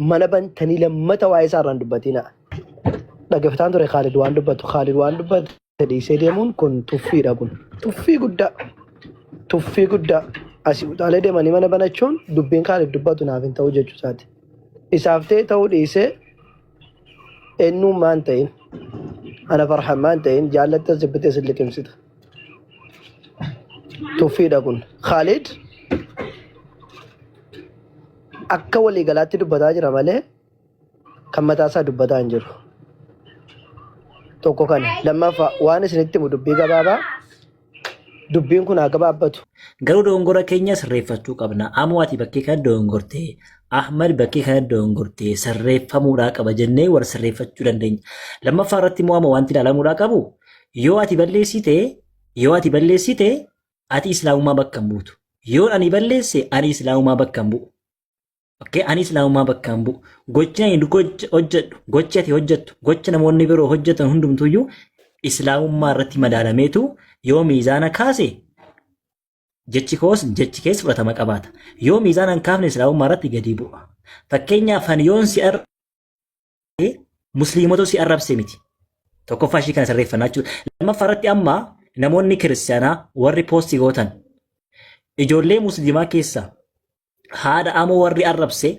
mana bantanii lammata waa'ee isaa irraan dubbatiina. Dhaggeeffataan ture Khaalid waan dubbatu. Khaalid waan dubbatu dhiisee deemuun kun tuffiidha kun. Tuffii guddaa. Tuffii guddaa. Asii utaalee deemanii mana banachuun dubbiin Khaalid dubbatu naaf hin ta'u jechuu isaati. Isaaf ta'e ta'uu dhiisee eenyummaan ta'in ana farhan maan ta'in jaallatta zibbitee sin liqimsita. Tuffiidha kun. Khalid akka waliigalaatti dubbataa jira malee kan mataasaa dubbataa hin jiru. Tokko kana. Lammaffaa waan isinitti himu dubbii gabaabaa dubbiin kun haa gabaabbatu. Garuu dogongora keenya sirreeffachuu qabna. Amoo ati bakkee kana dogongorte. Ahmad bakkee kana dogongorte. Sirreeffamuudhaa qaba jennee wal sirreeffachuu dandeenya. Lammaffaa irratti immoo amma wanti ilaalamuudhaa qabu Yoo ati balleessite, yoo ati balleessite, ati islaamummaa bakka hin buutu. Yoo ani balleesse, ani islaamummaa bakka hin bu'u. Okay, ani islaamummaa bakka hin bu'u. Gochi ani gocha- hojjedhu, gochi ati hojjettu, gocha namoonni biroo hojjetan hundumtuyyuu islaamummaa irratti madaalameetu yoo miizaana kaase jechi koos jechi kees fudhatama qabaata. Yoo miizaana hin kaafne islaamummaa irratti gadi bu'a. Fakkeenyaaf ani yoon si ar- musliimota si arrabse miti. Tokkoffaa ishii kana sirreeffannaa jechuudha. Lammaffaa irratti amma namoonni kiristaanaa warri poostii gootan ijoollee musliimaa keessaa haadha amoo warri arrabse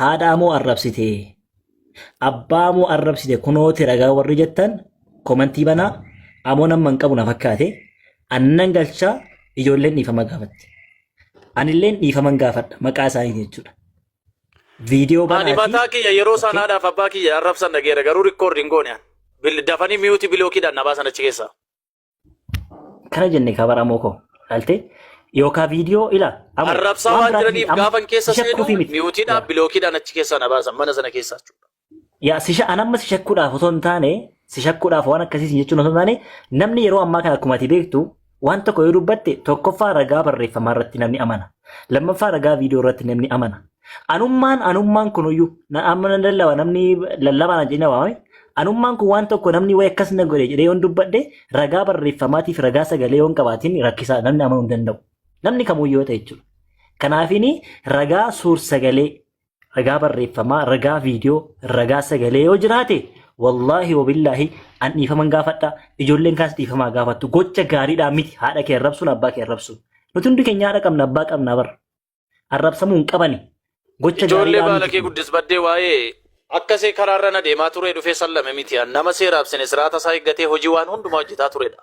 haadha amoo arrabsite abbaa amoo arrabsite kunooti ragaa warri jettan komantii banaa amoo nama hin qabu na fakkaate annan galchaa ijoolleen dhiifama gaafatte. Anilleen dhiifama gaafadha maqaa isaanii jechuudha. Viidiyoo Ani banaatii mataa kiyya yeroo okay. sanaadhaaf abbaa kiyya arrabsan dhageera garuu rikkoordi hin goone. Bil- Dafanii miyuutii bilookiidhaan na baasan achi keessaa. kana jenne kabaramoo koo ilaaltee yookaan viidiyoo ila amma Arrabsaa waan waan biraatti jiraniif amma gaafan keessa ishatti seenu kufii miti. miyuutiidhaan bilookiidhaan achi keessaa na baasan mana sana keessaa jechuudha. Yaa sisha an amma si shakkuudhaaf osoo hin taane si shakkuudhaaf waan akkasii siin jechuun osoo hin taane namni yeroo ammaa kana akkuma ati beektu waan tokko yoo dubbatte tokkoffaa ragaa barreeffamaa irratti namni amana. Lammaffaa ragaa viidiyoo irratti namni amana. Anummaan anummaan kunuyyuu na- amma nan lallaba namni lallabaa na jedhina waame. Anummaan kun waan tokko namni wayi akkas na godhe jedhee yoon dubbadhe ragaa barreeffamaatiif ragaa sagalee yoon qabaatiin rakkisaa namni amanuu hin danda'u. Namni kamuu yoo ta'e jechuudha. Kanaafini ragaa suur sagalee ragaa barreeffamaa, ragaa viidiyoo, ragaa sagalee yoo jiraate wallaahi wabillaahi an dhiifaman gaafadha ijoolleen kaas dhiifamaa gaafattu gocha gaariidhaa miti haadha kee arrabsuun abbaa kee arrabsuun nuti hundi keenya haadha qabna abbaa qabna bar arrabsamuu hin qabani gocha Ijoollee gaariidhaa baala kee miti guddis baddee waa'ee akkasii karaarra na deemaa turee dhufee sallame miti an nama seeraaf sine siraata isaa eeggatee hojii waan hundumaa hojjetaa turedha.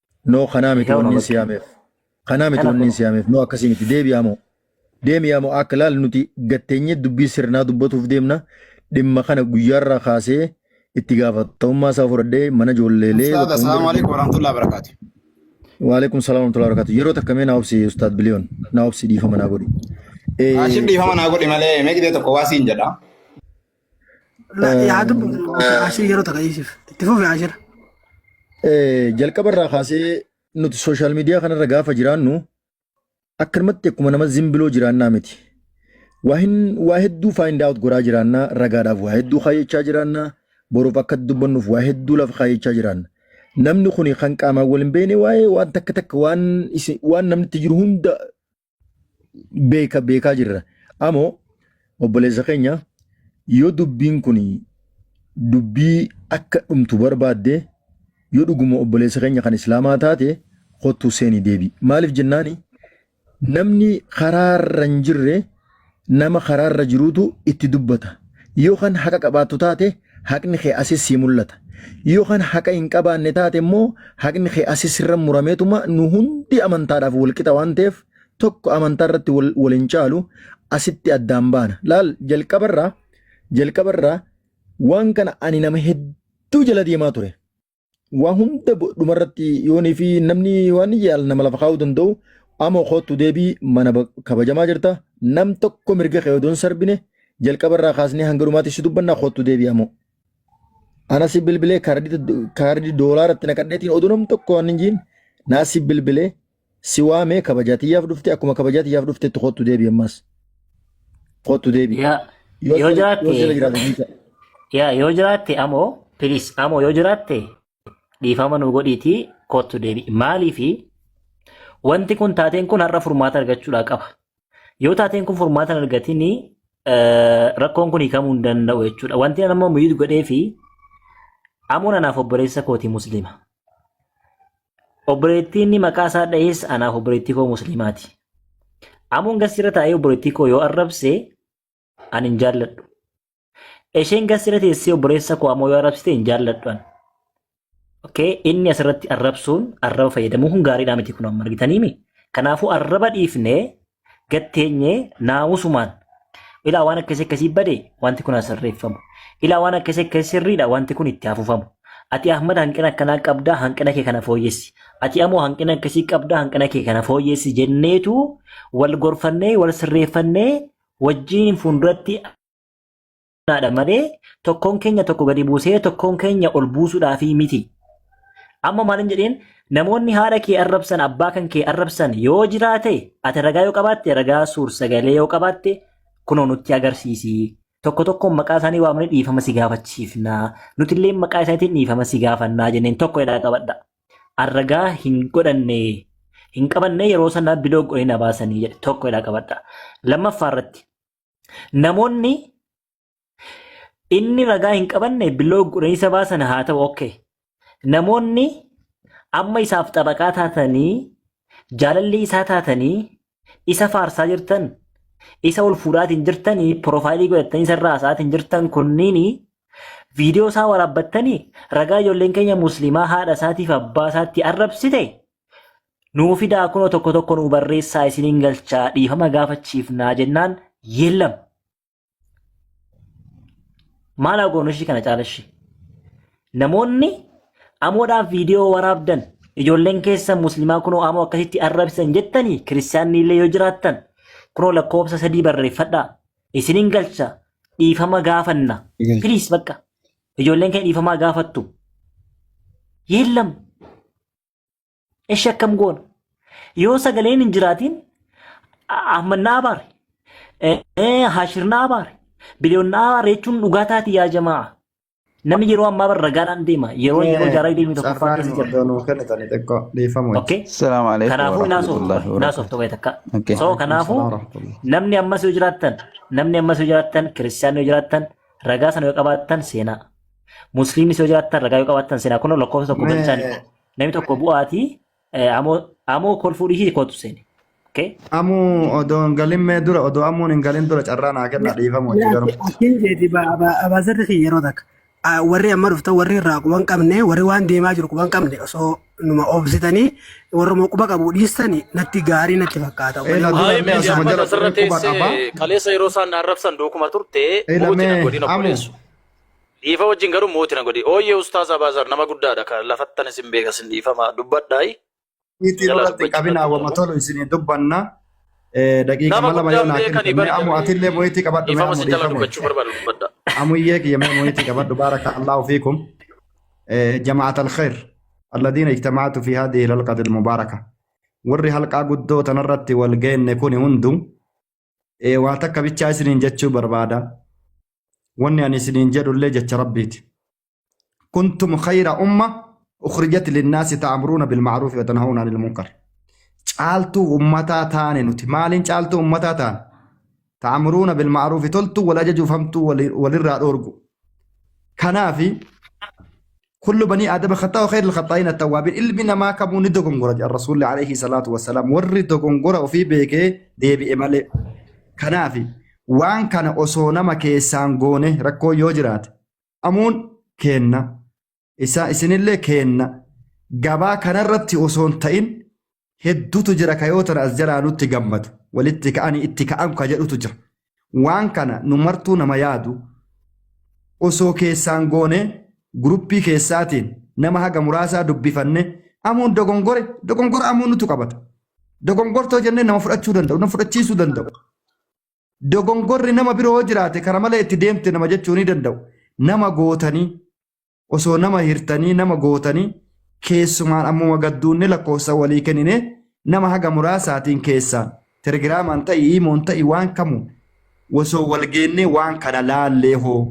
No kanaa miti Egaa wanniin namatti. si yaameef. Kanaa miti Kana wanniin kun- si yaameef. No akkasii miti. Deebi'aa moo. Deemi'aa moo akka laal nuti gatteenyee dubbii sirnaa dubbatuuf deemna. Dhimma kana guyyaarraa kaasee itti gaafatamummaa isaa fudhadhee mana ijoolleelee. Ustaaz, bakka assalaamu hunda- alaikum warahmatullahi wabarakaatu. Waalaikum salaam warahmatullahi wabarakatuh. Yeroo takka mee naa obsi Ustaad Biliyoon. Naa obsi dhiifama naa godhi. Eh, Ashif dhiifama naa godhi malee mee gidee tokko waa siin jedha. La- yaa dubbatu asii yeroo takka dhiisiif itti fufi ashira Eh, jalqaba irraa kaasee nuti sooshaal miidiyaa kanarra gaafa jiraannu akkanumatti akkuma nama zimbiloo jiraannaa miti. Waa hin- waa hedduu find out godhaa jiraannaa ragaadhaaf waa hedduu kaayyachaa jiraannaa boruuf akka dubbannuuf waa hedduu lafa kaayyachaa jiraanna. Namni kun kan qaamaan wal hin beekne waa'ee waan takka takka waan isin- waan namni itti jiru hunda beeka beekaa jirra. Amoo obboleessa keenya yoo dubbiin kun dubbii akka dhumtu barbaadde yoo dhuguma obboleessa keenya kan islaamaa taate kottuu seenii deebi. Maaliif jennaani namni karaa irra hin jirre Nama karaa irra jiruutu itti dubbata. Yoo kan haqa qabaattu taate haqni kee asis sii mul'ata. Yoo kan haqa hin qabaanne taate immoo haqni kee asis sirra murameetuma nu hundi amantaadhaaf wal qixa waan ta'eef tokko amantaa irratti wal, wal hin caalu asitti addaan baana. Laal jalqabarraa jalqabarraa waan kana ani nama hedduu jala deemaa ture. waa hunda bo- dhumarratti yoonii fi namni waan yaal nama lafa kaa'uu danda'u amoo kootu deebii mana ba- kabajamaa jirta nam tokko mirga kee odoon sarbine jalqaba irraa kaasnee hanga dhumaatti si dubbannaa kootu deebii amoo. Ana si bilbilee kaardii kaardii doolaaratti naqadheetiin oduu nam tokko waan hin jiin naa si bilbilee Si waamee kabajaa tiyyaaf dhufte akkuma kabajaa tiyyaaf dhuftetti kottu deebi ammas. Kottu deebi. Yaa Yoo yoo sila yoo sila jiraate jiraatte miidha. yaa yoo jiraatte amoo please amoo yoo jiraatte dhiifama nu godhiitii kottu deebi. Maaliifi wanti kun taateen kun har'a furmaata argachuudhaa qaba. Yoo taateen kun furmaata hin argatiin eh, rakkoon kun hiikamuu hin danda'u jechuudha. Wanti ani ammoo miidhu godhee fi amoon anaaf obboleessa kooti musliima. Obboleettii inni maqaa isaa dhahees anaaf obboleettii koo musliimaati. Amoon gassira taa'ee obboleettii koo yoo arrabse an hin jaalladhu. Isheen gassira teessee obboleessa koo amoo yoo arrabsite hin jaalladhu an. Okay, inni asirratti arrabsuun arraba fayyadamuun kun gaariidhaa miti kun amma argitaniimi. Kanaafuu arraba dhiifnee gad teenyee naamusumaan ilaa waan akkasii akkasii bade wanti kun asirreeffamu. Ilaa waan akkasii akkasii sirriidha wanti kun itti hafufamu. Ati Ahmad hanqina akkanaa qabdaa hanqina kee kana fooyyessi. Ati amoo hanqina akkasii qabdaa hanqina kee kana fooyyessi jenneetu wal gorfannee wal sirreeffannee wajjin fuulduratti Naadha malee tokkoon keenya tokko gadi buusee tokkoon keenya ol buusuudhaafii miti. Amma maalin jedheen namoonni haadha kee arrabsan abbaa kan kee arrabsan yoo jiraate ati ragaa yoo qabaatte ragaa suur sagalee yoo qabaatte kunoo nutti agarsiisi. Tokko tokkoon maqaa isaanii waamnee dhiifama si gaafachiifna. Nuti illee maqaa isaaniitiin dhiifama si gaafannaa jenneen tokko jedhaa qabadha. Arragaa hin godhanne hin qabanne yeroo sana biloo godhee na baasanii jedhe tokko jedhaa qabadha. Lammaffaa irratti Namoonni inni ragaa hin qabanne biloo gurreessa baasan haa ta'u okkee. Namoonni amma isaaf xabaqaa taatanii jaalalli isaa taatanii isa faarsaa jirtan isa ol fuudhaatiin jirtanii piroofaayilii godhattanii isarraa haasa'aatiin jirtan kunniin viidiyoo isaa waraabbattanii ragaa ijoolleen keenya musliimaa haadha isaatiif abbaa isaatti arrabsite Nuu fidaa kunoo tokko tokko nuu barreessaa isiniin galchaa dhiifama gaafachiifnaa jennaan yeellam. Maal haa goonu ishii kana caala ishii? Namoonni amoodhaaf viidiyoo waraabdan ijoolleen keessan musliimaa kunoo amoo akkasitti arrabsan jettanii kiristaanni illee yoo jiraattan kunoo lakkoofsa sadii barreeffadhaa isiniin galcha dhiifama gaafanna. Galcha. Piliis bakka ijoolleen keenya dhiifamaa gaafattu. Yeellam Eshi akkam goona? Yoo sagaleen hin jiraatiin Ahmad na abaare. Hashir na abaare. Biliyoon na abaare jechuun dhugaa taati yaa jamaa. Namni yeroo ammaa bara ragaadhaan deema. Yeroo yeroo jaaraa deemee tokko Cafaan keessa jira. iddoo nuu kennitanii xiqqoo dhiifama wajjin. Okay. Salaamu alaikum Kanaafuu hin haasoftu. warahmatullahi Hin haasoftu wabarakatuh. wayi takka. Okay. So kanaafuu Salaam warahmatullahi. namni ammas yoo jiraattan namni ammas yoo jiraattan kiristiyaanni yoo jiraattan ragaa sana yoo qabaattan seenaa. Musliimnis yoo jiraattan ragaa yoo qabaattan seenaa kun lakkoofsa tokko galchaanii. Mee Namni tokko bu'aati. Amoo amoo kolfuu dhiisii kootu seeni. Okay. Amuu odoo hin galin mee dura odoo amuun hin galin dura carraa naa kennaa dhiifama hojii garuu. Akkin jeeti abaazarri kiyya yeroo takka. Ah, Warri amma dhuftan warri irraa quban qabne warri waan deemaa jiru quban qabne osoo numa oobsitanii warruma quba qabu dhiistanii natti gaarii natti fakkaata. Ee, na dura Haayee mee mee asuma Jaappaan jala asirra quba qaba. teessee kaleessa yeroo isaan na arrabsan dookuma turte Ee, mootii na lamee, godina amu. obboleessu. Dhiifa wajjin garuu mooti na godhi. Ooyyee Ustaaz Abaazar nama guddaadha ka lafattan isin beeka sin dhiifama dubbadhaayi. Itti Jalaa irratti dubbachuu qabinaa irratti wama qabu. tolu isinii dubbanna. Eh, Daqiiqa Nama lama yoo guddaan naa beekan kennite mee ibari amu atillee jedhanii mo'itii qabadhu mee dhiifama amu sin jala dhiifama. dubbachuu barbaadu dubbadha. Amuyyee kiyya mee mo'itii qabadhu baaraka Allahu fiikum. Eh, Jama'at al-khair. Alladiina ijtama'atu fi haadihi al-halqati al-mubaaraka. Warri halqaa guddoo tanarratti wal geenne kuni hundu Ee, waa takka bichaa isiniin jechuu barbaada wanni ani isiniin jedhullee jecha rabbiiti kuntum khayra umma ukhrijat linnaasi ta'amruuna bilma'ruufi watanhawna anil munkar caaltuu ummataa taane nuti maaliin caaltuu ummataa taane ta'amruuna bilma'ruufi toltuu wal ajajuuf hamtuu wali- walirraa dhoorgu kanaafi kullu banii aadama khaxaa khayr al-khaxaa'iin at-tawwaabiin ilmi namaa kamuu ni dogongora jedha rasuulli alayhi salaatu wassalaam warri dogongora ofii beekee deebi'e malee kanaaf waan kana osoo nama keessaan goone rakkoo yoo jiraate amuun keenna isaa isinillee keenna gabaa kanarratti osoo hin ta'in heddutu jira ka yoo tana as jalaa nutti gammadu walitti ka'anii itti ka'an ka jedhutu jira waan kana nu martuu nama yaadu osoo keessaan goone guruppii keessaatiin nama haga muraasaa dubbifanne amuun dogongore dogongora amuun nutu qabata dogongortoo jennee nama fudhachuu danda'u nama fudhachiisuu danda'u dogongorri nama biroo jiraate kara malee itti deemte nama jechuu ni danda'u nama gootanii osoo nama hirtanii nama gootanii keessumaan ammuma gadduunne lakkoofsa walii kennine nama haga muraasaatiin keessaan telegiraamaan ta'i iimoon ta'i waan kamu osoo wal geennee waan kana laallee hoo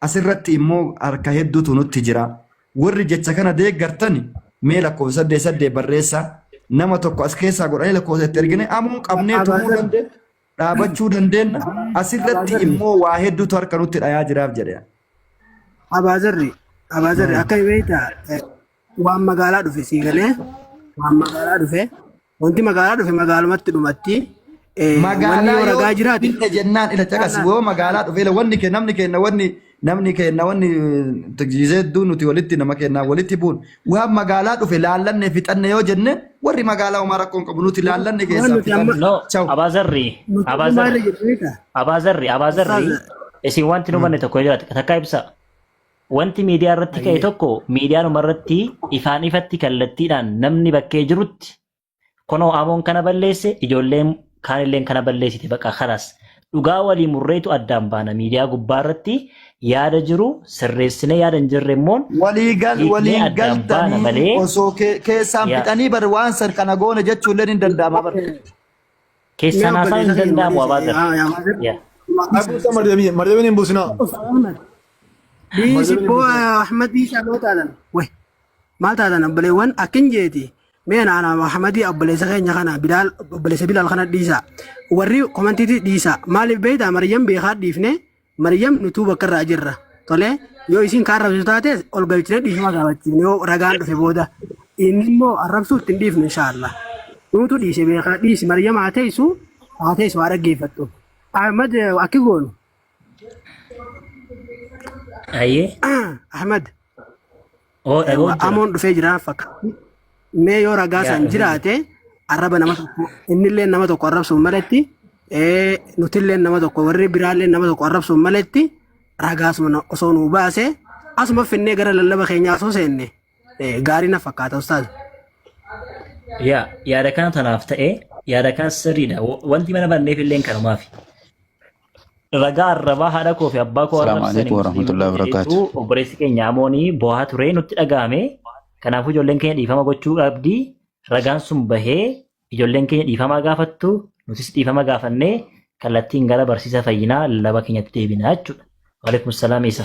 asirratti immoo harka hedduutu nutti jira warri jecha kana deeggartani mee lakkoofsa saddeet saddeet barreessaa nama tokko as keessaa godhanii lakkoofsa itti ergine ammoo qabnee Abadan tumuu dhaabachuu dandeenna. Asirratti Abaazarri. immoo waa hedduutu harka nutti dhayaa jiraaf jedhe. Abaazarri Abaazarri akka beektaa eh, waan magaalaa dhufe sii galee waan magaalaa dhufe wanti magaalaa dhufe magaalumatti dhumatti eh, wanni Magaalaa yoo yoo ragaa jiraate finne jennaan ila caqasi woo magaalaa dhufeela wanni kee namni keenna wanni Namni keenna wanni tajaajilee hedduu nuti walitti nama keennaa walitti buun waan magaalaa dhufe laallanne fixanne yoo jenne warri magaalaa homaa rakkoon qabu nuti laallanne keessaa nuti fixanne. amma- No, Chau. Abaazarri, Nuti dhumaa irra Abaazarri, jirru ni ta'a. Abaazarri, Abaazarri, Ustaaza. isin wanti nu banne tokko yoo jiraate takkaa ibsa. Wanti miidiyaa irratti ka'e tokko miidiyaanuma irratti ifaan ifatti kallattiidhaan namni bakkee jirutti Kunoo Amoon kana balleesse ijoolleen kaanilleen kana balleessite baqa kanas. Dhugaa walii murreetu addaan baana miidiyaa gubbaa irratti yaada jiru sirreessinee yaada hin jirre immoo walii gal Hiiknee waliin addaan baana galtanii malee- osoo ke- keessaan Yaa. fixanii bar waan san kana goone jechuun illee hin danda'ama bar. keessaan haasaan hin danda'amu abaa gara. Yaa. Abusa Maryamii, Maryamiin hin buusinaa. Dhiisi boo Ahmad Biishaa loo taalan. Way. maal taatan obboleewwan akkin jeeti mee na ana Muhammadii obboleessa keenya kana bilaal obboleessa bilaal kana dhiisa warri komantiiti dhiisa maaliif beeyta Maryam beekaa dhiifne Maryam nutuu bakka irraa jirra tolee yoo isin kaan rabsitu taate ol galchine dhiifama gaafachiifne yoo ragaan dhufe booda inni immoo arrabsuu ittiin dhiifnu inshaallah nuutu dhiise beekaa dhiisi Maryam haa teessu haa teessu haa dhaggeeffattu Ahmad akki goonu Ayyee. Ahmad Oo dhagoo jira. amoon dhufee jira fakkaatti. Mee yoo ragaa Yaa isaan dhufee jira. jiraate arraba nama tokko innillee nama tokko arrabsuun maletti ee, nutillee nama tokko warri biraallee nama tokko arrabsuun maletti ragaa asuma na- osoo nuu baase asuma finnee gara lallaba keenyaa osoo seenne ee, gaarii na fakkaata ustaaz. Yaa yaada kana tanaaf ta'ee yaada kan sirriidha. Wa- Wanti mana banneef illee kanumaafi. ragaa arrabaa haadha koo fi abbaa koo Salaamu arrabsani alaikum warahmatullahi musliimota jedhetu wabarakaatu. obboleessi keenya amoonii boohaa ture nutti dhaga'ame kanaafuu ijoolleen keenya dhiifama gochuu qabdi ragaan sun bahee ijoolleen keenya dhiifamaa gaafattu nutis dhiifama gaafannee kallattiin gara barsiisa fayyinaa lallaba keenyatti deebina jechuudha. Waalaikum salaam isa.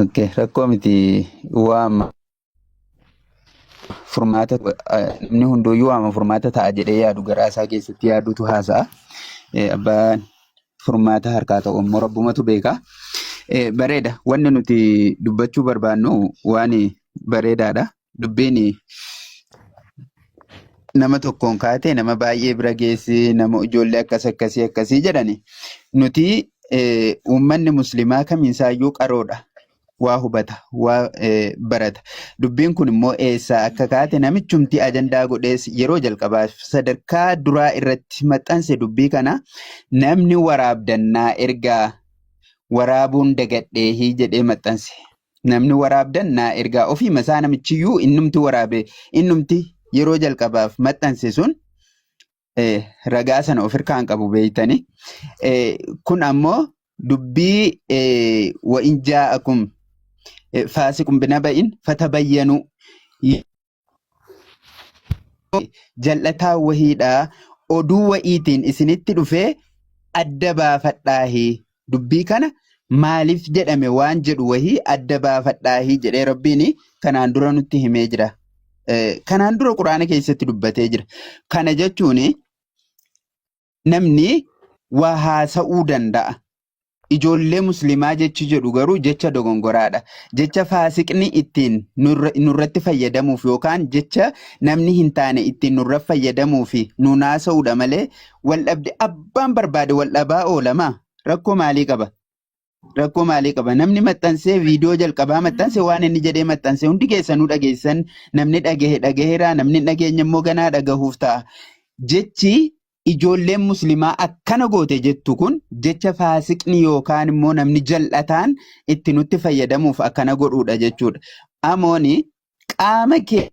Okay, rakkoo miti waama furmaata eh, namni hunduyyuu waama furmaata ta'a jedhee yaadu garaa isaa keessatti yaadutu haasa'a. Eh, Abbaan furmaata harkaa ta'u immoo rabbumatu beeka. Eh, Bareeda wanni nuti dubbachuu barbaannu waan bareedaadha. dubbiin nama tokkoon kaatee nama baay'ee bira geessi nama ijoollee akkas akkasii akkasii jedhani nuti eh, uummanni muslimaa kamiisaayyuu qaroodha waa hubata waa eh, barata dubbiin kun immoo eessaa akka kaate namichumti ajandaa godhees yeroo jalqabaaf sadarkaa duraa irratti maxxanse dubbii kana namni waraabdannaa ergaa waraabuun dagadheehii jedhee maxxanse Namni waraabdan naa ergaa ofiima isaa namichiyyuu innumti waraabe innumti yeroo jalqabaaf maxxanse sun eh, ragaa sana of irkaa hin qabu beeytani. Eh, kun ammoo dubbii eh, wa in jaa'akum eh, faasiqun binaba'in fatabayyanuu jal'ataa wahiidha oduu wa'iitiin isinitti dhufee adda baafadhaahi dubbii kana maaliif jedhame waan jedhu wahii adda baafadhaahi jedhee rabbiin kanaan dura nutti himee jira kanaan dura quraana keessatti dubbatee jira kana jechuun namni waa haasa'uu danda'a. Ijoollee muslimaa jechi jedhu garuu jecha dogongoraadha. Jecha faasiqni ittiin nurra- nurratti fayyadamuuf yookaan jecha namni hin taane ittiin nurra fayyadamuuf nuun haasa'uudha malee waldhabde abbaan barbaade waldhabaa oolama. Rakkoo maalii qaba? Rakkoo maalii qaba? Namni maxxansee viidiyoo jalqabaa maxxanse waan inni jedhee maxxanse hundi keessanuu dhageessan namni dhagahe dhagaheera namni hin dhageenye immoo ganaa dhagahuuf ta'a. Jechi ijoolleen muslimaa akkana goote jettu kun jecha faasiqni yookaan immoo namni jal'ataan itti nutti fayyadamuuf akkana godhuudha jechuudha. Amooni qaama kee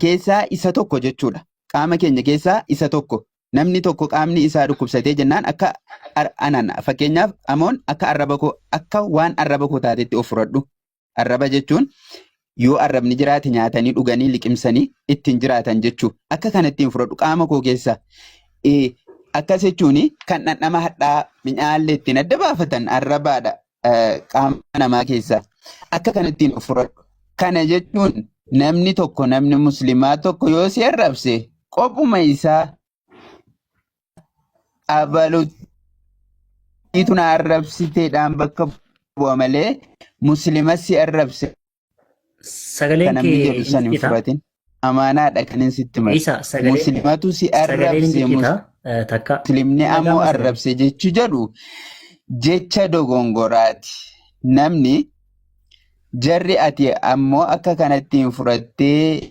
keessaa isa tokko jechuudha. Qaama keenya keessaa isa tokko. namni tokko qaamni isaa dhukkubsatee jennaan akka ar- anan fakkeenyaaf amoon akka arraba koo akka waan arraba koo taatetti of fudhadhu arraba jechuun yoo arrabni jiraate nyaatanii dhuganii liqimsanii ittiin jiraatan jechuu akka kana ittiin fudhadhu qaama koo keessa Eh, akkas jechuun kan dhandhama hadhaa minyaallee ittiin adda baafatan arrabaadha eh, qaama namaa keessaa akka kanattiin of fudhadhu. Kana jechuun namni tokko namni muslimaa tokko yoo si arrabse qophuma isaa abaluutu na arrabsiteedhaan bakka bu'a malee muslima si arrabse Sagaleen Kan namni kee jedhu san hin ciccita. fudhatin. Amaanaadha kan inni sitti male. Isa sagalee Muslimatu si sagaleen arrabse. ciccita eh, takka Muslimni Nagaa ammoo masalee. arrabse jechu jedhu jecha dogongoraati. Namni jarri ati ammoo akka kanatti hin fudhattee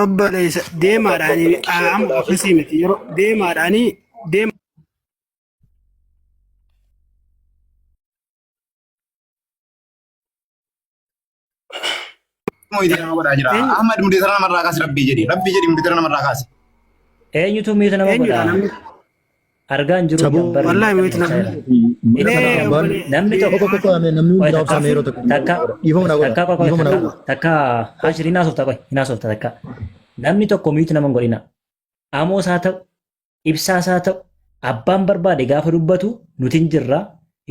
Obboleessa deemaadhaan amma ofiisii miti yeroo deemaadhaan deema. Ahmad mudee sana namarraa kaasi rabbii jedhi rabbii jedhi mudee sana namarraa kaasi. Eenyutu miita nama Eenyudha godha? namni Argaa hin jiru Saboo- jedhan barri Wallahi wait na- Seera. Mee Seera. obbolee- Namni mee tokko- tokko amee namni hundi Wayi raabsaa takka- meeroo takka takka- dhiifama na godha takka qofa dhiifama na takka- godha takka hashir hin haasofta qoy hin haasofta takka namni tokko miitu nama hin godhina amoos haa ta'u ibsaas haa ta'u abbaan barbaade gaafa dubbatu nuti hin jirra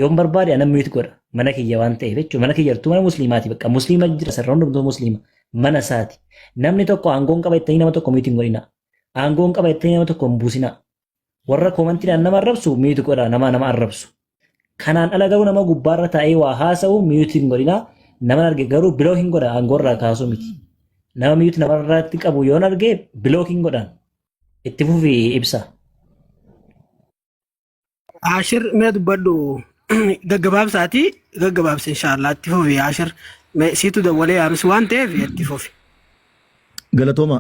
yoon barbaade anan miitu godha mana kiyya waan ta'eef jechuudha mana kiyya jirtu mana musliimaati bakka musliima jira sarara hundumtuu musliima mana isaati namni tokko aangoon qaba jettanii nama tokko miitu hin godhina aangoon qaba jettanii nama tokko hin buusina Warra koomantiidhaan nama arrabsu miyuuti godha nama nama arrabsu. Kanaan ala garuu nama gubbaarra taa'ee waa haasa'u miyuuti hin godhina. Nama arge garuu biloo hin godha aangoorraa kaasuu miti. Nama miyuuti namarratti qabu yoon arge biloo hin godhan. Itti fufi ibsa. Ashir mee dubbadhu gaggabaabsaati gaggabaabsa inshaallah itti fufi Ashir mee siitu dawwalee yaabis waan ta'eef itti fufi. Galatooma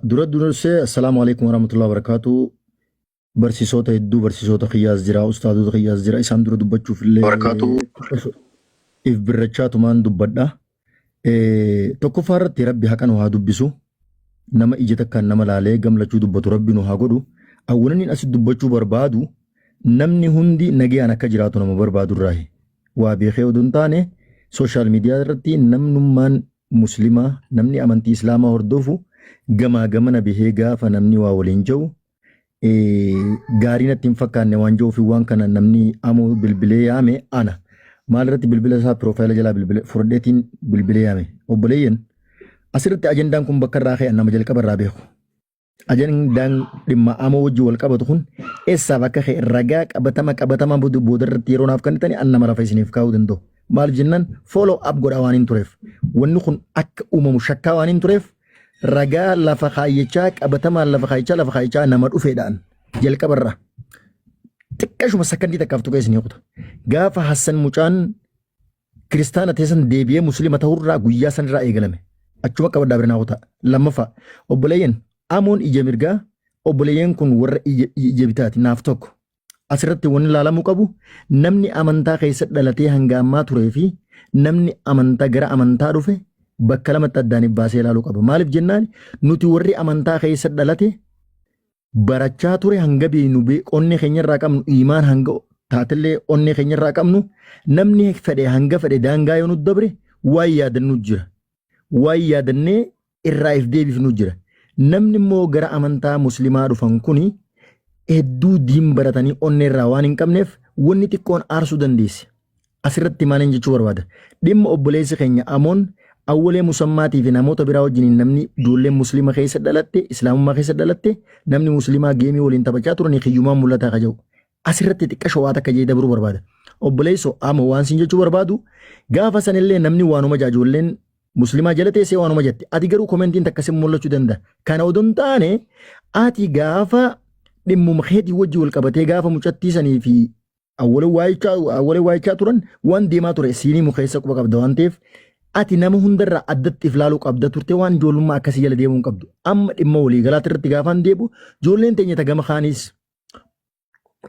dura dursee assalaamu alaikum warahmatullahi wabarakaatuu barsiisoota hedduu barsiisoota kiyyaas jira ustaadota kiyyaas jira isaan dura dubbachuuf illee Wabarakaatuu. if birrachaa tumaan dubbadha. Eh, Tokkoffaa irratti rabbi haqa nu haa dubbisu nama ija takkaan nama laalee gamlachuu dubbatu rabbi nu haa godhu awwananiin asi dubbachuu barbaadu namni hundi nagayaan akka jiraatu nama barbaadu irraahi waa beekee oduu hin taane sooshaal miidiyaa irratti namnummaan Muslima namni amantii islaamaa hordofu gamaa gamana bahee gaafa namni waa waliin ja'u gaarii natti hin fakkaanne waan ja'uuf waan kana namni amoo bilbilee yaame ana maal irratti bilbila isaa piroofaayila jalaa bilbila furdheetiin bilbilee yaame obboleeyyan asirratti ajandaan kun bakka irraa ka'e nama jalqaba irraa beeku Ajandaan dhimma amoo wajjin wal qabatu kun eessaaf akka ka'e ragaa qabatama qabatamaa booda booda irratti yeroo naaf kennitanii an nama lafa isiniif kaa'uu danda'u. Maaliif jennaan follow up godhaa waan hin tureef. Wanni kun akka uumamu shakkaa waan hin tureef ragaa lafa kaayyachaa qabatamaan lafa kaayyachaa lafa kaayyachaa nama dhufeedhaan jalqabarraa xiqqashuma sakandii takkaaf tuqee isinii kuta. Gaafa Hassan Mucaan Kiristaana ta'e san deebi'ee Muslima ta'urraa guyyaa sanirraa eegalame. Achuma qabadhaa birnaawotaa. Lammaffaa, obboleeyyan Amoon ija mirgaa obboleeyyan kun warra ija ija bitaati naaf tokko. Asirratti wanni laalamuu qabu namni amantaa keessa dhalatee hanga ammaa turee fi namni amantaa gara amantaa dhufe bakka lamatti addaan baasee ilaaluu qaba. Maaliif jennaan nuti warri amantaa keessa dhalate barachaa ture hanga beeynu bee- onnee keenyarraa qabnu iimaan hanga taatellee onnee keenyarraa qabnu namni fedhe hanga fedhe daangaa yoo nu dabre waan yaadannu jira. Waan yaadannee irraa if deebifnu jira. Namni immoo gara amantaa muslimaa dhufan kuni hedduu diin baratanii onnee irraa waan hin qabneef wanni xiqqoon aarsuu dandeessi. Asirratti maalin jechuu barbaada? Dhimma obboleessi keenya Amoon Awwalee Musammaatii fi namoota biraa wajjiniin namni ijoolleen Musliima keessa dhalatte, Islaamummaa keessa dhalatte, namni Musliimaa geemii waliin taphachaa turanii kiyyumaan mul'ataa ka jedhu. Asirratti xiqqasho waa takka jee dabruu barbaada. Obboleesso Amoo waan siin jechuu barbaadu gaafa sanillee namni waanuma jaa ijoolleen Musliimaa jala teessee waanuma jette. Ati garuu komentiin takka sin mul'achuu danda'a. Kana odoo hin taane ati gaafa dhimmuma keetii wajji wal qabatee gaafa mucattii sanii fi Awwalee waayichaa awwalee waayichaa turan waan deemaa ture siinii mukeessa quba qabda waan ta'eef ati nama hundarraa addatti if laaluu qabda turte waan ijoollummaa akkasii jala deemuu hin qabdu. Amma dhimma walii galaatti irratti gaafaan deebi'u ijoolleen teenya ta gama kaaniis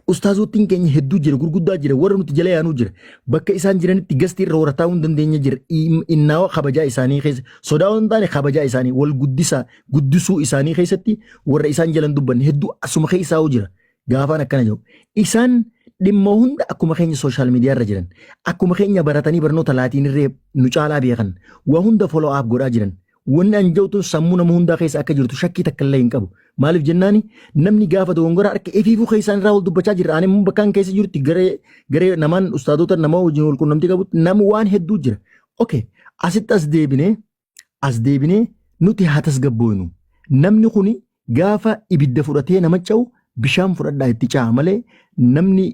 ustaazootiin keenya hedduu jira gurguddaa jira warra nuti jala yaanuu jira bakka isaan jiranitti gasti irra warra taa'uu hin dandeenye jira Im- innaawa kabajaa isaanii keessa sodaa waan hin taane kabajaa isaanii wal guddisaa guddisuu isaanii keessatti warra isaan jalan dubbanne hedduu asuma keessaa jira Gaafaan akkana jedhu isaan dhimma hunda akkuma keenya sooshaal miidiyaa irra jiran akkuma keenya baratanii barnoota laatiin irree nu caalaa beekan waa hunda follow up godhaa jiran wanni an jawtun sammuu nama hundaa keessa akka jirtu shakkii takka illee hin qabu maaliif jennaani namni gaafa dogongora harka ifiifuu keessaan irraa wal dubbachaa jirra ani immoo bakkaan keessa jirti garee garee namaan ustaadota nama wajjin wal qunnamtii qabutti nama waan hedduu jira okay asitti as deebinee as deebinee nuti haa tasgabbooynu. Namni kuni gaafa ibidda fudhatee nama ca'u bishaan fudhadhaa itti ca'a malee namni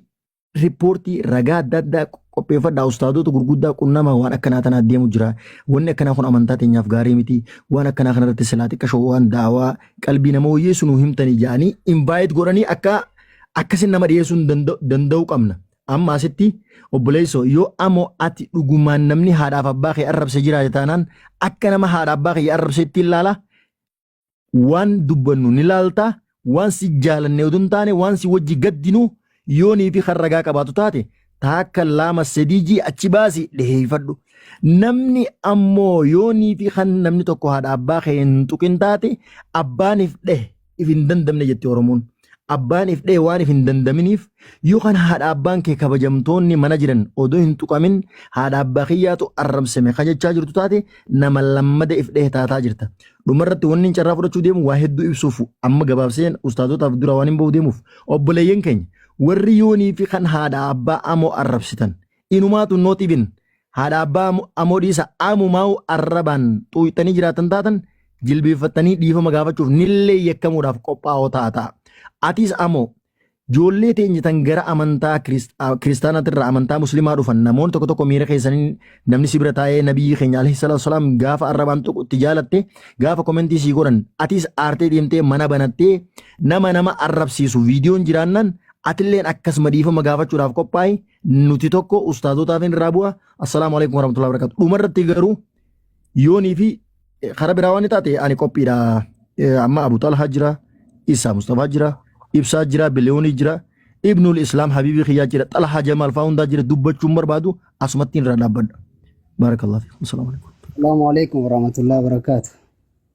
riippoortii ragaa adda addaa qopheeffadhaa ustaadoota gurguddaa qunnama waan akkanaa tanaa deemu jira. Wanni akkanaa kun amantaa teenyaaf gaarii miti. Waan akkanaa kanarratti silaa xiqqashoo waan daawaa qalbii nama wayyeessu nu himtanii ja'anii invaayit godhanii akka akkasin nama dhiyeessuun danda'u qabna. Amma asitti obboleessoo yoo amoo ati dhugumaan namni haadhaaf abbaa kee arrabse jiraate taanaan akka nama haadha abbaa kee arrabse itti ilaala waan dubbannu ni laalta waan si jaalanne utuu hin taane waan si wajji gaddinu yoonii fi kan ragaa qabaatu taate taakka laama sadii jii achi baasi dhiheeffadhu. Namni ammoo yoonii fi kan namni tokko haadha abbaa kee hin tuqin taate abbaaniif dheh if hin dandamne jetti Oromoon. Abbaan if dha'e waan if hin dandaminiif yoo kan haadha abbaan kee kabajamtoonni mana jiran odoo hin tuqamin haadha abbaa kiyyaatu arrabsame kan jechaa jirtu taate nama lammada if dha'e taataa jirta. Dhumarratti wanni hin carraa fudhachuu deemu waa hedduu ibsuuf amma gabaabseen ustaazotaaf dura waan hin bahu deemuuf obboleeyyan keenya warri yoonii fi kan haadha abbaa amoo arrabsitan inumaa tun not even haadha abbaa amoo dhiisa amumaa'u arrabaan xuuyxanii jiraatan taatan jilbeeffattanii dhiifama gaafachuuf nillee yakkamuudhaaf qophaa'oo ta'a ta'a. Atiis amoo joollee teenya tan gara amantaa kiristaanaatirraa amantaa muslimaa dhufan namoonni tokko tokko miira keessaniin namni si bira taa'ee nabiyyi keenya alayhi salaatu wasalaam gaafa arrabaan tuqu itti jaalatte gaafa komentii sii godhan atiis aartee deemtee mana banattee nama nama arrabsiisu viidiyoon jiraannan atilleen akkasuma dhiifama gaafachuudhaaf qophaa'e nuti tokko ustaazotaaf hin irraa bu'a assalaamu alaikum warahmatullahi wabarakatuh dhuma irratti garuu yoonii fi eh, kara biraa waan taate ani qophiidha Eh, amma abu talhaa jira isaa mustafaa jira ibsaa jira biliyoonii jira ibnul islaam habiibii kiyyaa jira xalhaa jamaal faa hundaa jira dubbachuun barbaadu asumatti irraa dhaabbadha baarakallah fi assalaamu alaikum Assalamu alaikum warahmatullahi wabarakatuh.